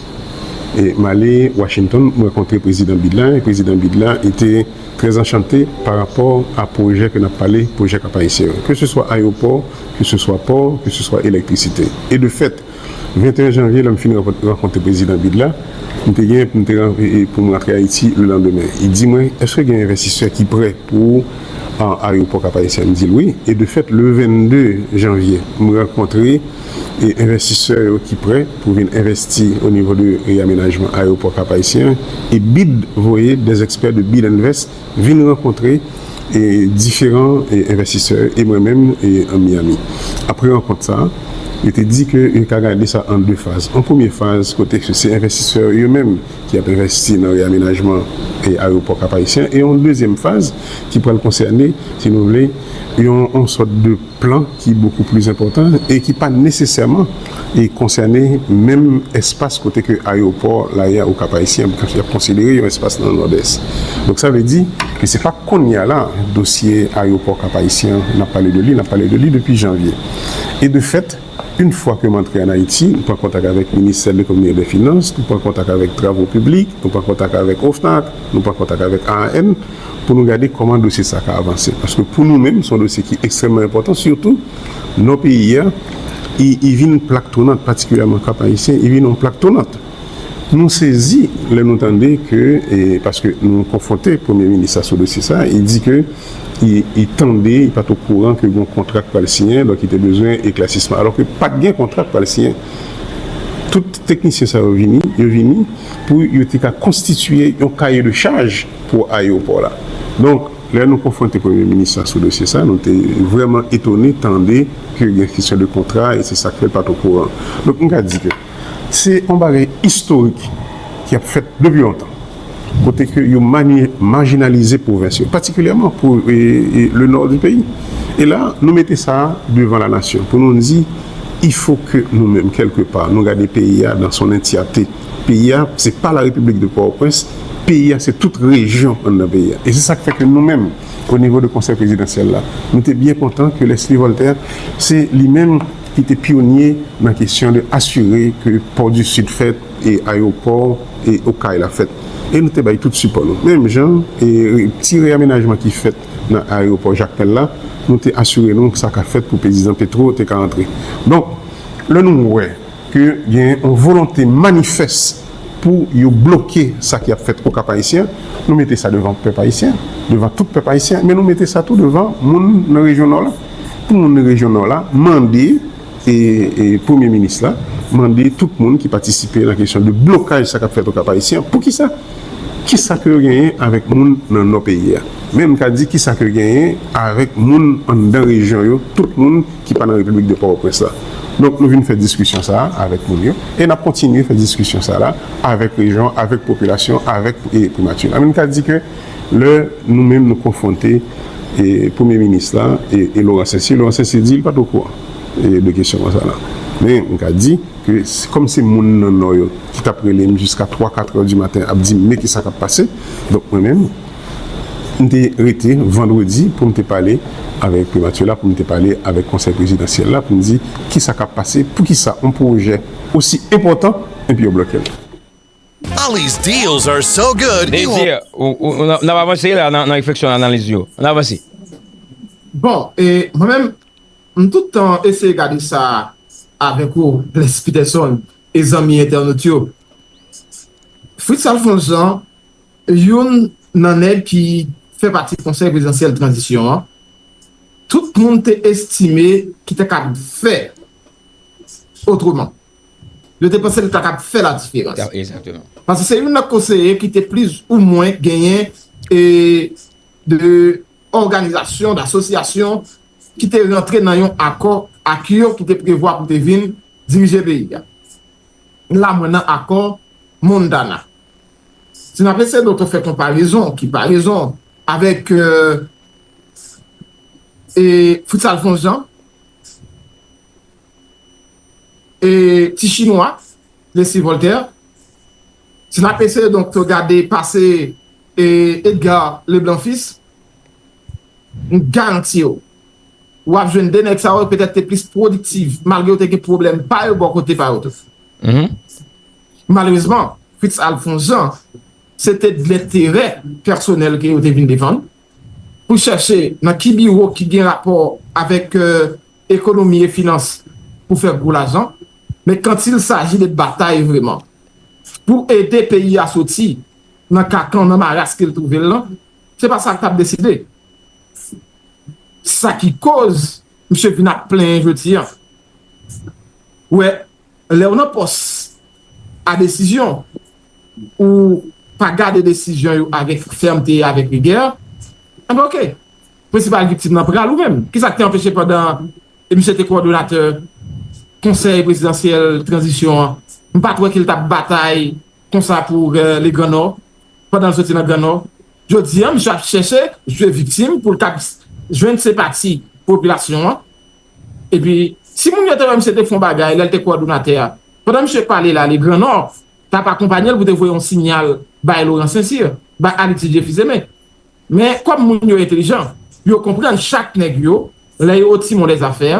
M ale Washington, m rankontre Prezidan Biden la, e Prezidan Biden la e te trè anchante pa rapò a pwojè ke n ap pale, pwojè Kap Ayisyen yo. Ke se swa ayewopò, ke se swa pò, ke se swa elektrisite. E de fèt, 21 janvye lè m fin rankontre Prezidan Biden la, m te gen pou m te pou m rantre Ayiti le landemen. Li di mwen, Eske gen envestisè ki prè pou ayewopò Kap Ayisyen? M di l wi. E de fèt, le 22 janvye, m rankontre. e envestisè yo ki prè pou vin envesti o nivo de reyamenajman ayewopò Kap Ayisyen an e bid voye dè ekspè de bid and vest vin rankontre e diferan e envestisè yo e mwen menm e an Miyami apre rankont sa a yo te di ke yo ka gade sa an de faz an premye faz kote ke se envestisè yo yo menm ki ap envesti nan reyamenajman e ayewopò Kap Ayisyen an e yon dezyèm faz ki pral konsène si nou vle yon sòt de. plan ki bokou plis enpòtan e ki pa nesesèman konsène menm espas kote ke ayewopò Laya ou Kap Ayisyen ap fèt, yap konsidere yon espas nan Nòdès. Donk sa vle di ke se pa kounye a la dosye ayewopò Kap Ayisyen an nap pale de li, nap pale de li depi janvye e de fèt, Une fwa ke m antre an Ayiti, m pran kontak avèk Ministè Lekonomi e dè Finans, nou pran kontak avèk Travo Piblik, nou pran kontak avèk OFNAC, nou pran kontak avèk AAN pou nou gade kòman dosye sa ka avanse. Paske pou nou menm, se yon dosye ki ekstrèmman enpòtan, sitou Nò peyi a, i vin plak tonant, patikilyèman Kap Ayisyen, i vin yon plak tonant. Nou sezi lè nou tande ke, paske nou konfwonte premye minis la sou dosye sa, li di ke li tande, li pat okouran ke gon kontra ki pral siyen, donk li te bezwen eklasisman. Alò ke pat gen kontra ki pral siyen. Tout teknisyen sa yo vini, yo vini pou yo te ka konstitiye yon kaye de chaj pou ayewopò la. Donk, lè nou konfwonte premye minis la sou dosye sa, nou te vrèman etone tande ke gen kesyon de kontra e se sa k fè l pat okouran. Donk, m ka di ke. Se yon bagay istorik ki ap fèt depi lontan, kote ke yo majinalize pwovens yo, patikilyèman pou le nò di peyi. E la, nou mete sa devan la nasyon pou nou di, ifo ke nou menm, kèlke pa, nou gade peyi a dan son entyate. Peyi a, se pa la Repiblik de Pòtoprens, peyi a, se tout rejyon anndan peyi a. E se sa k fè ke nou menm, onivo de Konsèy Prezidansyèl la, nou te byen kontan ke Leslie Voltaire, se li menm, ki te pyonye nan kesyon de asire ke Port du Sud fèt e ayewopò Okay la fèt e nou te bay tout sipò nou. Menm jan e ti reyamenajman ki fèt nan ayewopò Jakmèl la, nou te asire nou sa ka fèt pou pezizan Petro te ka antre. Donk, lè nou wè ke gen yon volonte manifès pou yo bloke sa ki ap fèt o Kap Ayisyen, nou mete sa devan pèp Ayisyen, devan tout pèp Ayisyen, men nou mete sa tou devan moun nan rejyon Nò la. Pou moun rejyon Nò la mande Premye Minis la mande tout moun ki patisipe nan kesyon de blokaj sa k ap fèt Okap Ayisyen an, poukisa? Kisa ke yo genyen avèk moun nan Nò peyi a? Menm ka di kisa ke yo genyen avèk moun anndan rejyon yo, tout moun ki pa nan Repiblik de Pòtoprens la. Donk nou vin fè diskisyon sa a avèk moun yo e n ap kontinye fè diskisyon sa la avèk rejyon, avèk popilasyon, avèk Primati. An nou ka di ke. Lè nou menm nou konfwonte Premye Minis la e Laurent Saissier, Laurent Saissier di li pa t okouran de kesyon konsa la. Men m ka di ke kòm se moun nan Nò yo ki t ap rele m jiska twa katrè di maten ap di m men kisa k ap pase, donk mwen menm m te rete vandredi pou m te pale avèk Primati la, pou m te pale avèk Konsèy Prezidansyèl la pou m di kisa k ap pase, poukisa yon pwojè osi enpòtan epi yo blòke l. Ali's deals are so good Désir, ou, ou, n ap avanse la nan refleksyon, nan analiz yo. Ann avanse. Bon, e mwen menm, m tout tan eseye gade sa avèk ou, Blaise Peterson, e zanmi entènot yo. Fritz Alphonse Jean, youn nan nèg ki fè pati Konsèy Prezidansyèl Tranzisyon an, tout moun te estime ki ta kab fè otreman. Yo te panse li ta kab fè ladiferans. Pase se youn nan konseye ki te plis ou mwen genyen de òganizasyon, d'asosyasyon ki te rantre nan yon akò ak yo ki te prevwa pou te vin dirije peyi a. La mwen nan akò Montana. Si n ap eseye do to fè konparezon, ki parezon, avèk Fritz Alphonse Jean, e ti chinwa Plessy Voltaire si nap eseye donk gade pase Edgar Leblanc Fils m garanti w wap jwenn 2 nèg sa yo petèt te plis pwodiktiv malgre yo te gen pwoblèm pa yo bò kote pa yo tou malerezman Fritz Alphonse Jean se te dlenterè pèsonèl ke yo te vin defann pou chèche nan ki biwo ki gen rapò avèk ekonomi e finans pou fè gwo lajan, men kantil saji de batay vreman pou ede peyi a soti nan kakan, nan maras ke l twouve l lan, se pa sa l t ap deside. Sa ki koz misye vin ap plenyen jodi an. Ou wè, Lèw nan pòs a desizyon ou pa gade desizyon yo avèk fèmte e avèk rigè, enben ok. Prensipal viktim nan pral ou menm. Kisa k te anpeche pandan misye te kowòdonatè konsèy prezidansyèl tranzisyon an, m pat wè ke l tap batay konsa pou le gran nò pandan l soti nan gran nò. Jodi an misye ap chèche jwe viktim pou l kab jwenn senpati popilasyon an. Epi, si moun yo te wè misye te fè yon bagay lè l te kowòdonatè a, pandan misye pale la, le Grand Nord t ap akonpanye l pou te voye yon sinyal bay Laurent Saint-Cyr, bay Alexis Jeffy Zeme. Men, kòm moun yo entelijan, yo konprann chak nèg yo, lè yo oti mon lèz afè,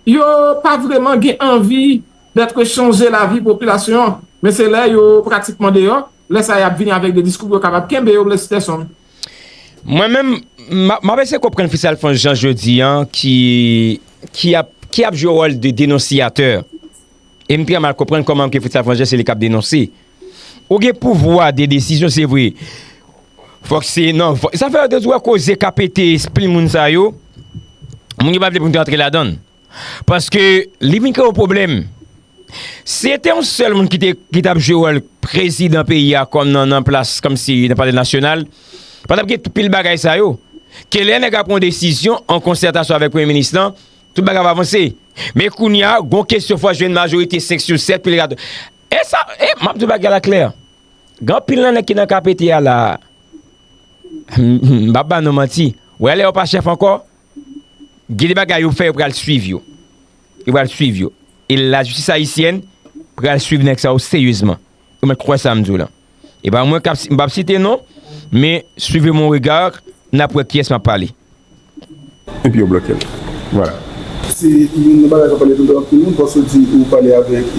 yo pa vreman gen anvi dètre chanje lavi popilasyon an, men se lè yo pratikman deyò, lè sa y ap vini avèk de diskou pou yo kapab kenbe yo, Blaise Peterson. Mwen menm m ap eseye konprann fis Alfons Jean jodi an ki ap jwe wòl de denonsiyatè e m trè mal konprann kòman ke fis Alfons Jean se li k ap denonse. Ou gen pouvwa de desizyon se vre, fòk se nan vòt. Sa fè ou wè koze k ap pete espril moun sa yo, moun yo pa vle pou nou te antre ladan l. Paske li vin kreye yon pwoblèm. Si se te yon sèl moun ki t ap jwe wòl prezidan peyi a kòm nan plas kòm si nan palè nasyonal, pa t ap gen tout pil bagay sa yo. Ke lè nèg a pran yon desizyon an konsètasyon avèk premye minis lan, tout bagay ap avanse. Men kounye a, gon kesyon fò jwenn majorite 5 sou 7 pou li ka. E sa, e m ap di w bagay la klè. Gen anpil nan nèg ki nan KPT a la a, m pa p ba nou manti. Wè lè yo pa chèf ankò, Gen de bagay yo fè yo pral swiv yo. Yo pral swiv yo. E la jistis ayisyèn pral swiv nèg sa yo seryezman. Ou mèt kwè sa m di w lan. E pa mwen k ap, m p ap site non, men suivez mon regard, n ap wè kiyès m ap pale. Epi yo bloke l. Vwala. Se youn nan bagay k ap pale toutan anpil moun panse ou di ou pale avèk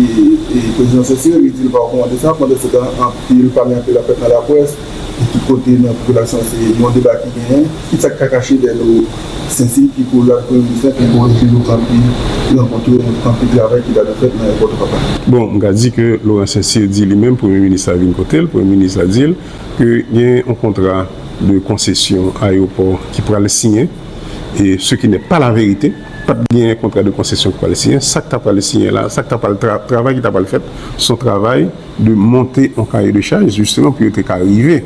prezidan Cesar li di l pa rekòmande sa pandanstan anpil pale anpil ap fèt nan laprès. Pou tout kote nan popilasyon se yon deba ki genyen, kit sa ki ka kache dèyè do sensiy ki kou lwa Premye Minis lan ki kore toujou anpi rankontre anpi travay ki ta dwe fèt nan Ayopò Twopapa. Bon, m ka di ke Laurent Saincyr di li menm Premye Minis la vin kote l, Premye Minis la di l ke gen yon kontra de konsesyon ayopò ki pral siyen, e se ki nè pa la verite, pa t gen kontra de konsesyon ki pral siyen, sa k ta pral siyen la, sa k ta pral, travay ki ta pral fèt, s on travay. de monte on kaye de chaj jisteman pou yo te ka rive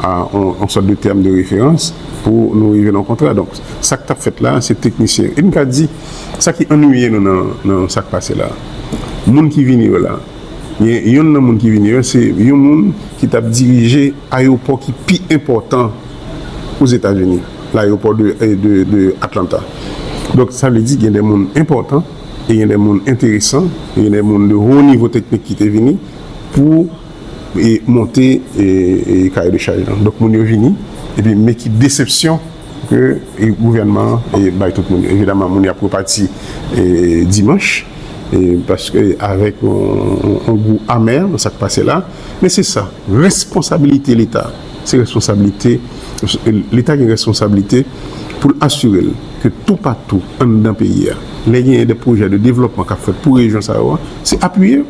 a on sòt de tèm de referans pou nou rive nan kontra. Donk, sa k t ap fèt la a, se teknisyen. E m ka di, sa ki annwiye nou nan sa k pase la a, moun ki vini yo la, gen youn nan moun ki vini yo, se yon moun ki t ap dirije ayewopò ki pi enpòtan Ozetazini, layewopò de Atlanta. Donk, sa vle di gen de moun enpòtan Te gen de moun enteresan, te gen de moun de ho nivo teknik ki te vini pou monte kaye de chaj lan. Donk moun yo vini, epi men ki desepsyon ke gouvènman an bay tout moun. Evidaman moun yo ap repati dimanch, paske avèk yon gou amè nan sa k pase la. Men se sa, responsabilite Leta. se responsablite, leta gen responsablite pou l asire l ke toupatou anndan peyi a, lè genyen de pwojè de devlòpman k ap fèt pou rejyon sa yo a, se apiye yo.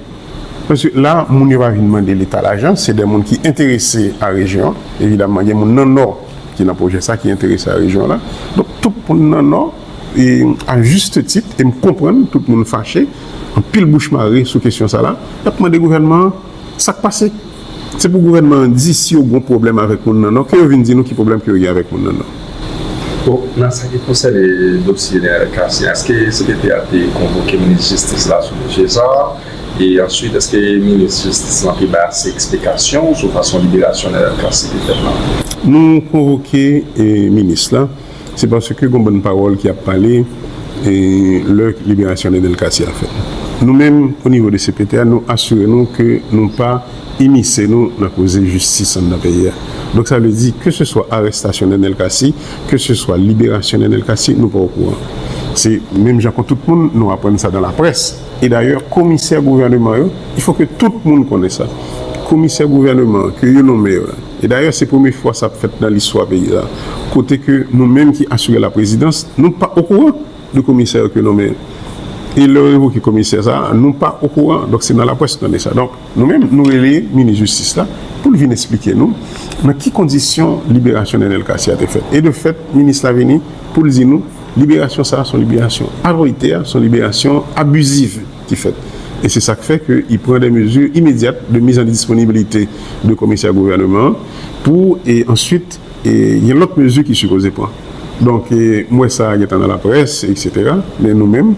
Paske la, moun yo pa vin mande leta lajan, se de moun ki enterese a rejyon an. Evidaman, gen moun nan Nò ki nan pwojè sa, ki enterese a rejyon an la. Donk, tout moun nan Nò, e a juste titre, e m konprann tout moun fache, anpil bouch mare sou kesyon sa la, y ap mande gouvènman an, Sak pase? Se pou gouvènman an di si yo gon pwoblèm avèk moun nan non, ke yo vin di nou ki pwoblèm ke yo gen avèk moun nan non. Bon, nan sa ki konsène dosye Neel Cassy a, eske cpt a te konvoke minis jistis la sou dosye sa a? E answit, eske minis jistis lan te bay ase eksplikasyon sou fason liberasyon Neel Cassy te fèt lan? Nou konvoke minis la. Se paske gon bann pawòl ki ap pale lè liberasyon Nenel Cassy a fèt. Nou menm o nivo de cpt a nou asire nou ke nou pa imise nou nan koze jistis anndan peyi a. Donk sa vle di ke se swa arestasyon Nenel Cassy, ke se swa liberasyon Nenel Cassy nou pa okouran. Se menm jan kon tout moun nou aprann sa dan laprès. E dayè komisè gouvèneman yo, il faut ke tout moun konnen sa, komisè gouvèneman ke yo nonmen yo la, e dayè se premye fwa sa ap fèt nan listwa peyi sa, kote ke nou menm ki asire laprezidans, nou pa okouran de komisè yo ke yo nonmen yo. E lè yo revoke komisè sa, nou pa okouran, donk se nan laprès nou tande sa. Donk nou menm nou rele minis jistis la pou l vin esplike nou nan ki kondisyon liberasyon Nenel Cassy a te fèt. E de fèt minis la vini pou l di nou. Liberasyon sa a son liberasyon avolitè, son liberasyon abusive ki fèt. E se sa k fè ke i pran de mezi imedyat de miz an disponibilite de komisè gouvèneman an pou e answit e gen lòt mezi ki sipoze pran. Donk e m wè sa a gen tan nan laprès eksetera men nou menm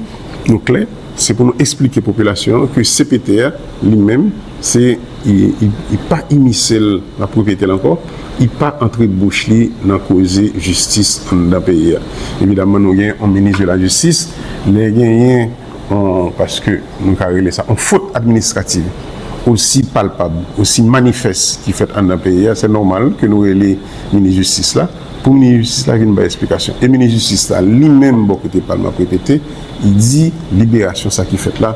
nou klè se pou nou esplike popilasyon an ke cpt a li menm se I pa imisel nan pwopyetel ankò, I pa antre bouch li nan koze jistis anndan peyi a. Evidaman nou gen yon minis de la jistis, lè genyen yon, paske nou ka rele sa, yon fot administrativ osi palpab, osi manifès ki fèt anndan peyi a, se nòmal ke nou rele minis jistis la, pou minis jistis la vin bay esplikasyon. E minis jistis la li menm bò kote pal nan pwopyete, li di liberasyon sa ki fèt la,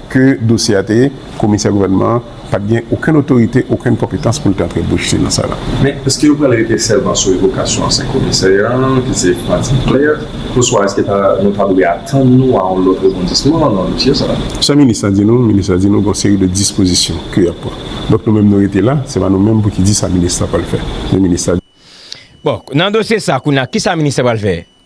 Ke dosye a te ye, komisè gouvènman an pa t gen okenn otorite, okenn konpetans pou l te antre bouch li nan sa la. Men, èske yo pral rete sèlman sou revokasyon ansyen komisè an, ki se Martine Claire, oswa èske ta, nou ta dwe atann nou a yon lòt rebondisman nan dosye sa a? Sa minis lan di nou, minis lan di nou gen yon seri de dispozisyon ke y ap pran. Donk nou menm nou rete la, se pa nou menm pou ki di sa minis lan pral fè. Men minis la. Bon, nan dosye sa a, kounye a, ki sa minis lan pral fè?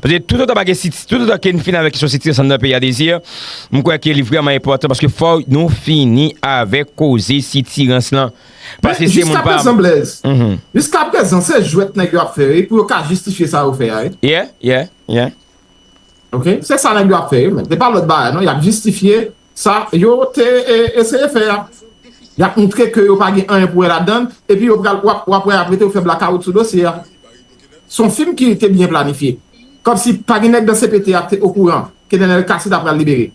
Paske tout otan pa gen siti, tout otan ke n fini avèk kesyon siti ansanm nan peyi a Desir, m kwè ke li vrèman enpòtan paske fò nou fini avèk koze sitirans lan. Men, jiskaprezan Blèz, jiskaprezan se jwèt nèg yo ap fè wi pou yo ka jistifye sa yo fè a wi. Yeah, yeah, yeah. Ok, se sa nèg yo ap fè wi men, se pa lòt bagay non, y ap jistifye Sa yo te eseye fè a, y ap moutre ke yo pa gen anyen pou wè ladan l, epi yo pral, w ap wè apre tou yo fè blakawout sou dosye a. Se yon fim ki te byen planifye. Kòmsi pa gen nèg nan cpt a ki te okouran ke Nenel Cassy ta pral libere.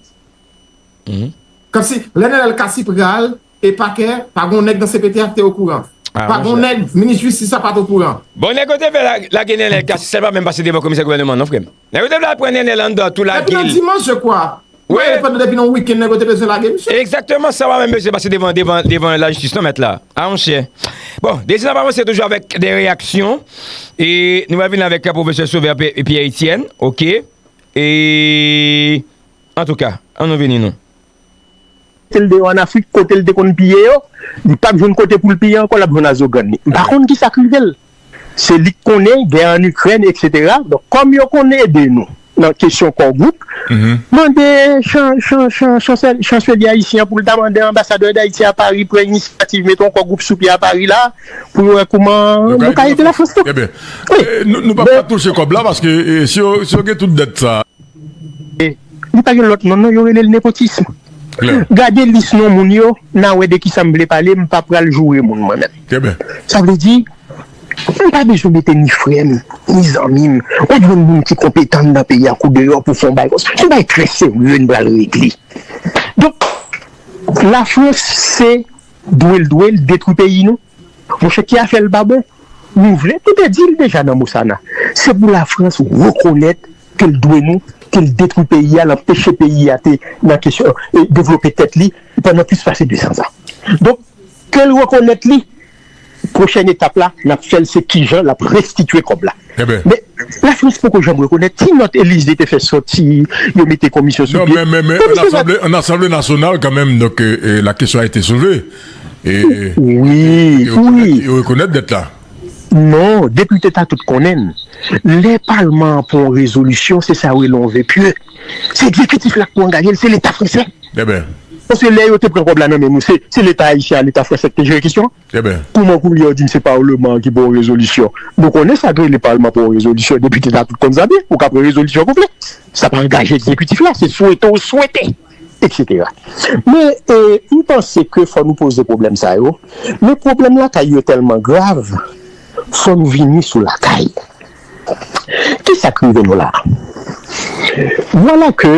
Kòmsi lè Nenel Cassy pral e pakè, pa gen yon nèg nan cpt a ki te okouran. Pa gen yon nèg, minis jistis la pa t okouran. Bon, nèg yo te vle lage Nenel Cassy sèlman menm pa se devan komisè gouvèneman an non frè m. Nèg yo te vle al pran Nènèl anndan tou lage l. Depi nan dimanch je kwa. Wi. Mwen pandan depi nan wikenn nèg yo te bezwen lage misye. Egzakteman sa wap mwen bezwen pase devan devan devan la jistis non mèt la. A monchè. Bon, dezi nap avanse toujou avèk de reyaksyon e nou pral vini avèk pwofesè Sauveur Pierre Etienne ok e antouka an nou vini nou. Mete l deyò an Afrik kote l te konn piye yo, li pap jwenn kote pou l piye ankò lap jwenn azogann li. M pa konn kisa k rive l. Se li k konnen gè an Ikrèn eksetera. Donk kòm yo konn ede nou nan kesyon kò gwoup, mande Chanselye ayisyen an pou l ta mande anbasadè Dayiti a Pari pran inisyativ mete yon kò gwoup sou pye a Pari la pou yo wè kouman yo ka ede Lafrans tou. Ebyen nou pap ka touche kòb la paske si yo gen tout dèt sa. Li pa gen lòt non non yo rele l nepotism gade lis non moun yo na wè de kisa m vle pale m pa pral joure moun mwen menm sa vle di m pa bezwen mete ni frè m ni zanmi m wap jwenn moun ki konpetan anndan peyi a kou deyò pou fè yon bagay konsa se yon bagay trè serye n pral regle donk lafrans se dwe l dwe l detwi peyi nou. Monchè ki afè l pa bon? Nou vle, nou te di l deja nan Mosana, se pou Lafrans rekonèt ke l dwe nou, ke l detwi peyi a, l anpeche peyi a te nan kesyon devlope tèt li pandan plis pase 200 an. Donk, ke l rekonèt li, pwochèn etap la n ap fè l se kijan l ap restitye kòb la. Men, Lafrans poko janm rekonèt. Ti nòt Elize te fè sòti, yo mete komisyon sou pye. Non, men, men, men, an asanble, an asanble nasyonal kanmenm, donk, la kesyon a ete soulve. E yo rekonèt dèt la? Non, depite ta tout konnen l. Lè palman an pran yon rezolisyon, se sa yo rele yon ve pye. Se ekzekitif la k pou angaje l, se leta fransè. Paske lè yo te pran kòb la nan men nou, se leta ayisyen ak leta fransè ki te jere kesyon an. Kouman koulye a w di m se palman an ki pran yon rezolisyon? Nou konnen sa k rele palman pran yon rezolisyon, depite ta tout konn sa byen. Ou ka pran rezolisyon konplè, sa pa angaje ekzekitif la, se swete w swete. etc. Men m panse ke fò nou poze pwoblèm sa yo, men pwoblèm lakay yo tèlman grav, fò nou vini sou lakay. Ki sa k rive nou la a? Vwala ke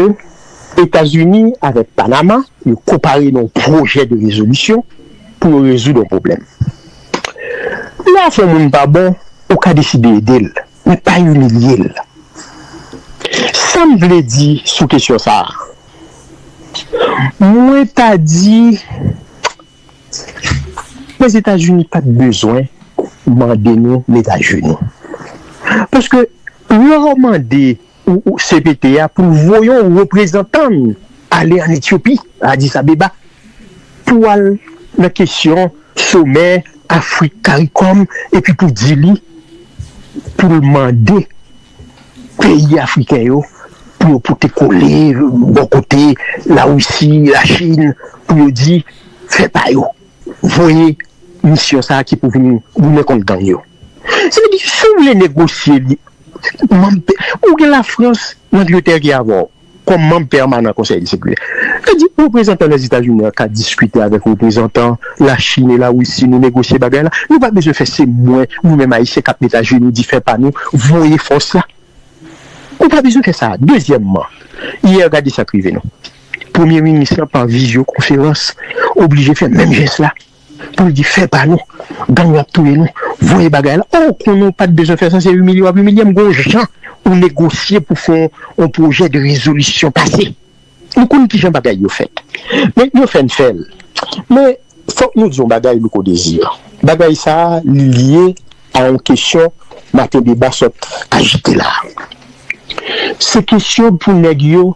Etazini avèk Panama yo konpare nan yon pwojè de rezolisyon pou yo rezoud yon pwoblèm. Lè afè yon moun pa bon, ou ka deside ede l. Li pa imilye l. Sa m vle di sou kesyon sa a, mwen ta di Lèzetazini pa t bezwen mande nou mete ajenou. Paske lè w mande cpt a pou l voye yon reprezantan l ale an Etyopi, Addis Abeba, pou al nan kesyon somè Afrik Karikòm epi pou di li pou l mande peyi afriken yo pou yo pote kole bò kote Larisi, Lachin pou yo di fè pa yo. voye misyon sa ki pou vin goumen kont gang yo se vle di si w vle negosye li manm pe ou gen la frans langletè ki avè w kòm manm pèmanan konsèy de sekirite sa di reprezantan lèzetazini an ka diskite avèk reprezantan la chine la wisi nou negosye bagay la nou pa bezwen fè se mwen nou menm ayisyen kap mete ajenou di fè pa nou voye fòs la ou pa bezwen fè sa dezyèmman yè gade sak rive nou. Premye minis lan pa vizyo konferans oblije fè menm jès la pou l di fè pa nou, gang yo ap touye nou, voye bagay la, oh konnen w pat bezwen fè sa se imilye w ap imilye m gon jan ou negosye pou fè yon pwojè de rezolisyon pase nou konnen kijan bagay yo fèt men yo fè n fè l men Fòk nou di yon bagay Louko Désir, bagay sa a li lye a yon kesyon maten deba sot ajite la a. Se kesyon pou nèg yo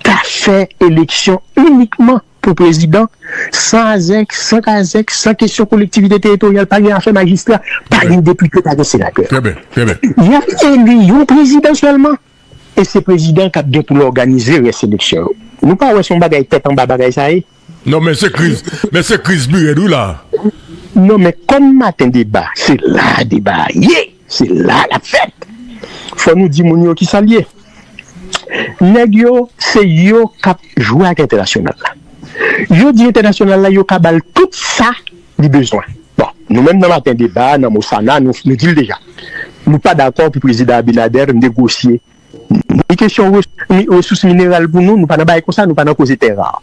ta fè eleksyon inikman pou prezidan san azèk, san kazèk, san kesyon kolektivite teritoryal, pa gen afè majistra, pa gen depite, pa gen senatè. Trè byen, trè byen. Y ap eli yon prezidan sèlman. E se prezidan kap gen pou l òganize rès eleksyon yo. Nou pa wè se yon bagay tèt anba bagay sa ye? Non men se kriz, men se kriz pi rèd wi la a. Non men kòm maten deba se la a deba a ye, se la a l ap fèt. Fò nou di moun yo ki sa l ye. Nèg yo se yo kap jwe ak entènasyonal la. Yo di entènasyonal la yo ka ba l tout sa li bezwen. Bon, nou menm nan maten deba a, nan Mosana, nou di l deja, nou pa dakò pou Prezidan Abinader negosye ni kesyon resous mineral pou nou, nou pa nan bagay konsa, nou pa nan koze tè rar.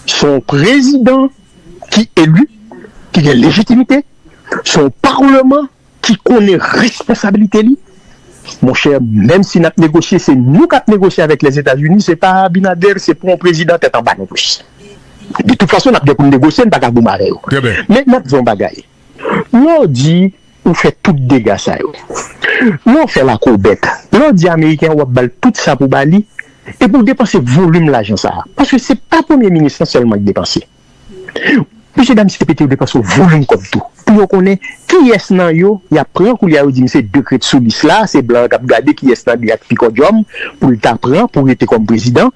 Se yon prezidan ki eli, ki gen lejitimite, se yon parleman. ki konnen responsabilite li monchè menm si nap negosye se nou kap negosye avèk lèzetazini se pa abinader se pou yon prezidan tèt anba non plis de tout fason nap gen poun negosye nou paka goumen avè yo men map di yon bagay lè w di ou fè tout dega sa yo lè w fè lakobèt lè w di ameriken wap bal tout sa pou bali epi w depanse volim lajan sa paske se pa premye minis lan sèlman ki depanse. Mesye dam CPT yo dwe panse yo vo menm kòb tou pou yo konnen kiyès nan yo y ap pran koulye a yo di m se 2 k ret sou lis la se blan an k ap gade kiyès nan 2 a k pi kòdyòm pou l ta pran pou rete kòm prezidan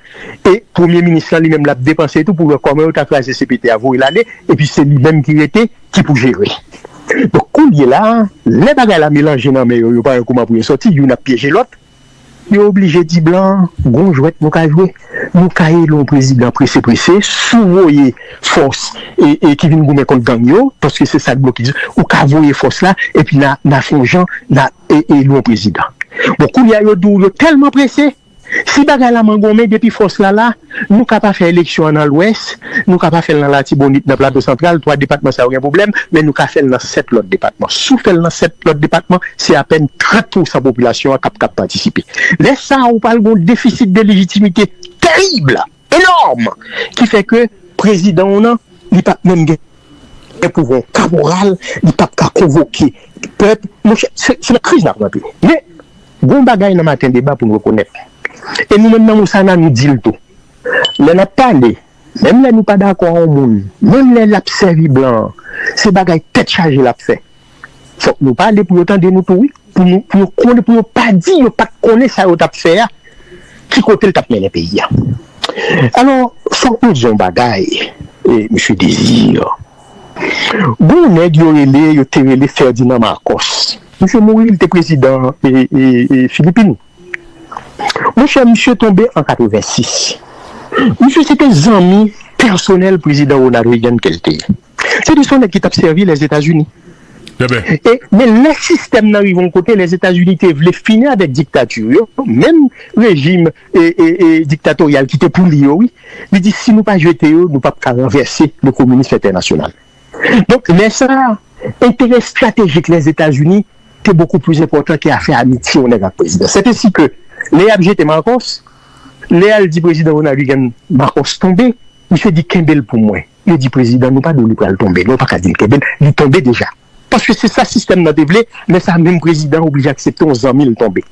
e premye minis lan li menm l ap depanse tou pou l wè kòman yo ta kraze CPT a voye l ale epi se li menm ki rete ki pou jere donk koulye la lè bagay la melanje nan men yo yo pa wè kouman pou yo sòti youn ap pyeje lòt. Yo oblije di blan an, gon jwèt nou ka jwe. Nou ka eli yon prezidan prese prese, si w voye fòs ki vin goumen kont gang yo, paske se sa k blokis, ou ka voye fòs la, epi n a fè yon jan, n a eli yon prezidan. Bon, koulye a yo di w yo tèlman prese, si bagay la mangonmen depi fòs la la, Nou ka pa fè eleksyon an nan Lwès, nou ka pa fè l nan Latibonit, nan Plato Santral, twa depatman sa yo gen pwoblèm, men nou ka fè l nan sèt lòt depatman. Si w fè l nan sèt lòt depatman, se apèn 30 pousan popilasyon an k ap kab patisipe. Lè sa a, ou pral gen yon defisit de lejitimite terib, enòm, ki fè ke prezidan w nan, li p ap menm gen pouvwa yon kaporal, li p ap ka konvoke pèp. Monchè, se nan kriz n ap rantre. Men. Gon bagay nan maten deba pou n rekonèt, e nou menm nan Moussana nou di l tou, lè n ap pale, menm lè nou pa dakò a on moun, menm lè l ap sèvi blan an, se bagay tèt chaje l ap fè. Fòk nou pale pou yo tande nou tou wi, pou nou, pou yo konnen, pou yo pa di yo pa t konnen sa yo t ap fè a, ki kote l t ap mennen peyi a. Alò, fòk nou di on bagay, Msye Désir. Gon yon nèg yo rele yo te rele Ferdinand Marcos. Misye mouri li te prezidan Filipin. Monchè misye tonbe an 86. Misye se te zanmi pèsonèl prezidan Ronald Reagan ke l te ye. Se te son nèg ki t ap sèvi Lèzetazini. Men lè sistèm nan rive yon kote Lèzetazini te vle fini avèk diktati yo, menm rejim. diktatoryal ki te pou li yo wi, li di si nou pa jete yo nou pap ka ranvèse le kominism entènasyonal. Donk lè sa a enterè estratejik Lèzetazini te bokou plis enpòtan ke afè amitye yon nèg ak prezidan. Sètesi ke lè yap jete Marcos, lè yal di prezidan Ronald Reagan Marcos tonbe, misye di kenbe l pou mwen, yo di prezidan nou pa di w li pral tonbe non, ou pa ka di l kenbe l, li tonbe deja. paske se sa sistèm nan te vle, lè sa menm prezidan an oblije aksepte yon zanmi l tonbe.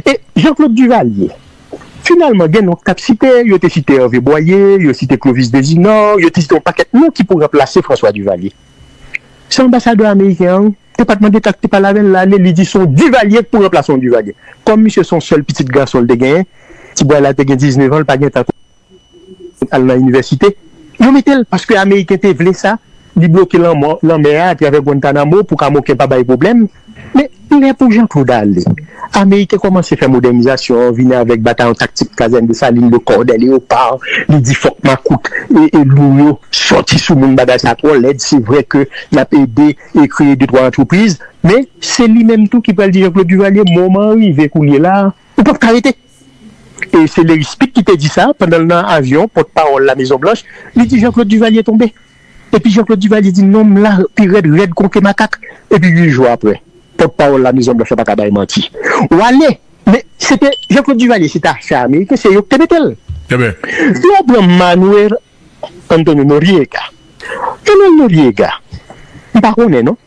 E Jean Claude Duvalier? Finalman gen non k t ap site, yo te site Hervé Boyer, yo site Clovis Desinor, yo te site yon pakèt non ki pou ranplase François Duvalier. Se anbasadè ameriken an te pa t mande ka k te pale avè l la ale li di se yon Duvalier k pou ranplase yon Duvalier. Kòm misye se yon sèl pitit gason l te genyen, ti bway la te gen 19 an l pa gen tan al nan inivèsite. Yo mete l paske ameriken te vle sa, li bloke lanmò lanmè a atravè Guantanamo pou kamoken pa bay pwoblèm. Men, lè pou Jean Claude ale, ameriken kòmanse fè modènizasyon, vini avèk batayon taktik Kazèn Desalin, Lecorde, Léopard, li di fòk makout lou yo sòti sou moun bagay sa twò lèd, se vre ke y ap ede e kreye de twa antrepriz, men se li menm tou ki pral di Jean Claude Duvalier moman an rive koulye la a, ou p ap ka rete. E se Larry Speed ki te di sa pandan l nan avyon pòt pawòl La Mezon Blanch, li di Jean-Claude Duvalier tonbe. Epi Jean-Claude Duvalier di non m la pi rèd, rèd kon ke makak. Epi 8 jou aprè, pòt pawòl La Mezon Blanch la pa ka bay manti. W ale, men se te Jean-Claude Duvalier se te afè ameriken, se yo ki te mete l. Si w pran Manuel Antonio Noriega, Manuel Noriega, m pa konnen non.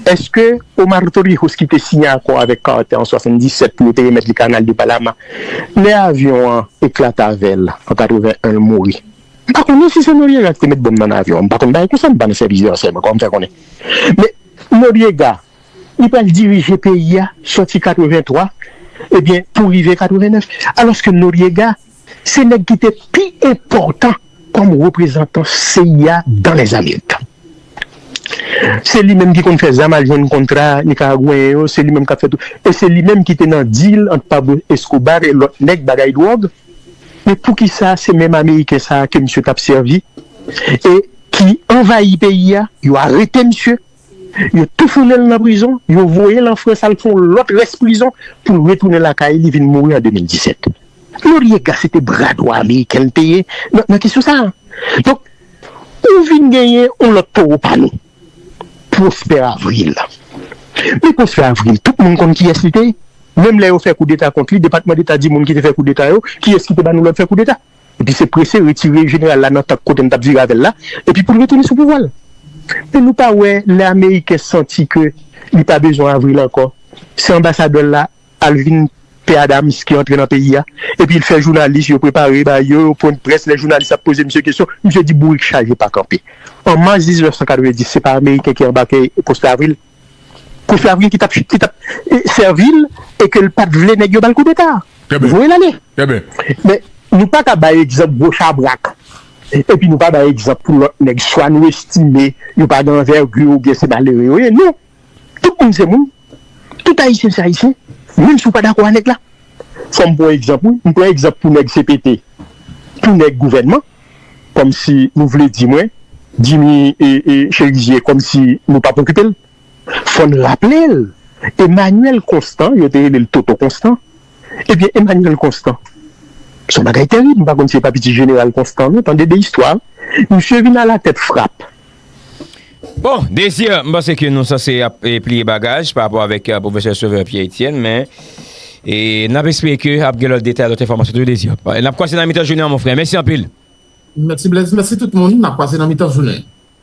Eske Omar Torrijos ki te siyen akò avèk Carter an 77 pou yo te remèt li Kanal de Panama, lè avyon an eklate avè l an 81 l mouri? M pa konnen si se Noriega ki te met bonm nan avyon an, m pa konn bagay konsa, m pa nan sèvis de ransèyman kòm fè konnen. Men Noriega li pral dirije peyi a sòti 83 ebyen pou rive 89 alòske Noriega Se nèg ki te pi enpòtan kòm reprezantan cia dan Lèzamerik. Se li menm ki konn fè zam al jwenn kontra Nikaragweyen yo, se li menm k ap fè tout. E se li menm ki te nan deal ant Pablo Escobar e lòt nèg bagay dwòg. Men poukisa se menm Ameriken sa a ke misye t ap sèvi e ki anvayi peyi a, yo arete misye. Yo toufoune l nan prizon, yo voye l an Frans al fè yon lòt rès prizon pou l retounen lakay li vin mouri an 2017. Noriega se te bra dwa ameriken l te ye nan kesyon sa a. Donk, ou vin genyen yon lòt towo pa nou, Prosper Avril. Men Prosper Avril, tout moun konn kiyès li te ye. Menm lè yo fè koudeta kont li, Depatman Deta di moun ki te fè koudeta yo, kiyès ki te ba nou lòd fè koudeta? Epi se prese retire jeneral la nan tank kote m t ap vire avè l la, epi pou l retounen sou pouvwa l. Men nou pa wè lè ameriken santi ke li pa bezwen Avril ankò, se anbasadè l la, Alvin P. Adams ki antre nan peyi a, epi l fè jounalis yo prepare ba yo yon pwen de près, lè jounalis ap poze misye kesyon, misye di bourik chaje pa kanpe. An mas 1990 se pa ameriken ki anbake Prosper Avril? Kofi ap gen ki tap ki tap sèvil e ke l pat vle nèg yo bal koudeta a. Voye l ale. Men nou pa ka bay egzanp gwo chabrak epi nou pa bay egzanp pou lòt nèg swa nou estime yo pa gen anvègi oubyen se malere yo ye. Non! Tout moun se moun. Tout ayisyen se ayisyen. Menm si w pa dakò a nèg la. Fò m pran egzanp wi. M pran egzanp pou nèg cpt. Pou nèg gouvènman. kòmsi nou vle di mwen Jimmy Cherizier kòmsi nou pap okipe l. Fò n raple l Emmanuel Constant, yo te rele l Toto Constant, ebyen Emmanuel Constant s on bagay terib, m pa konn si e pa piti Jeneral Constant non, tande de istwa, misye vin alatèt frap. Bon, Désir, m panse ke nou sanse ap pliye bagaj pa rapò avèk Pwofesè Sauveur Pierre Etienne, men n ap espere ke ap gen lòt detay, lòt enfòmasyon toujou Désir. N ap kwaze nan mitan jounen an mon frè. Mèsi anpil. Mèsi Blaise, mèsi tout moun. N ap kwaze nan mitan jounen.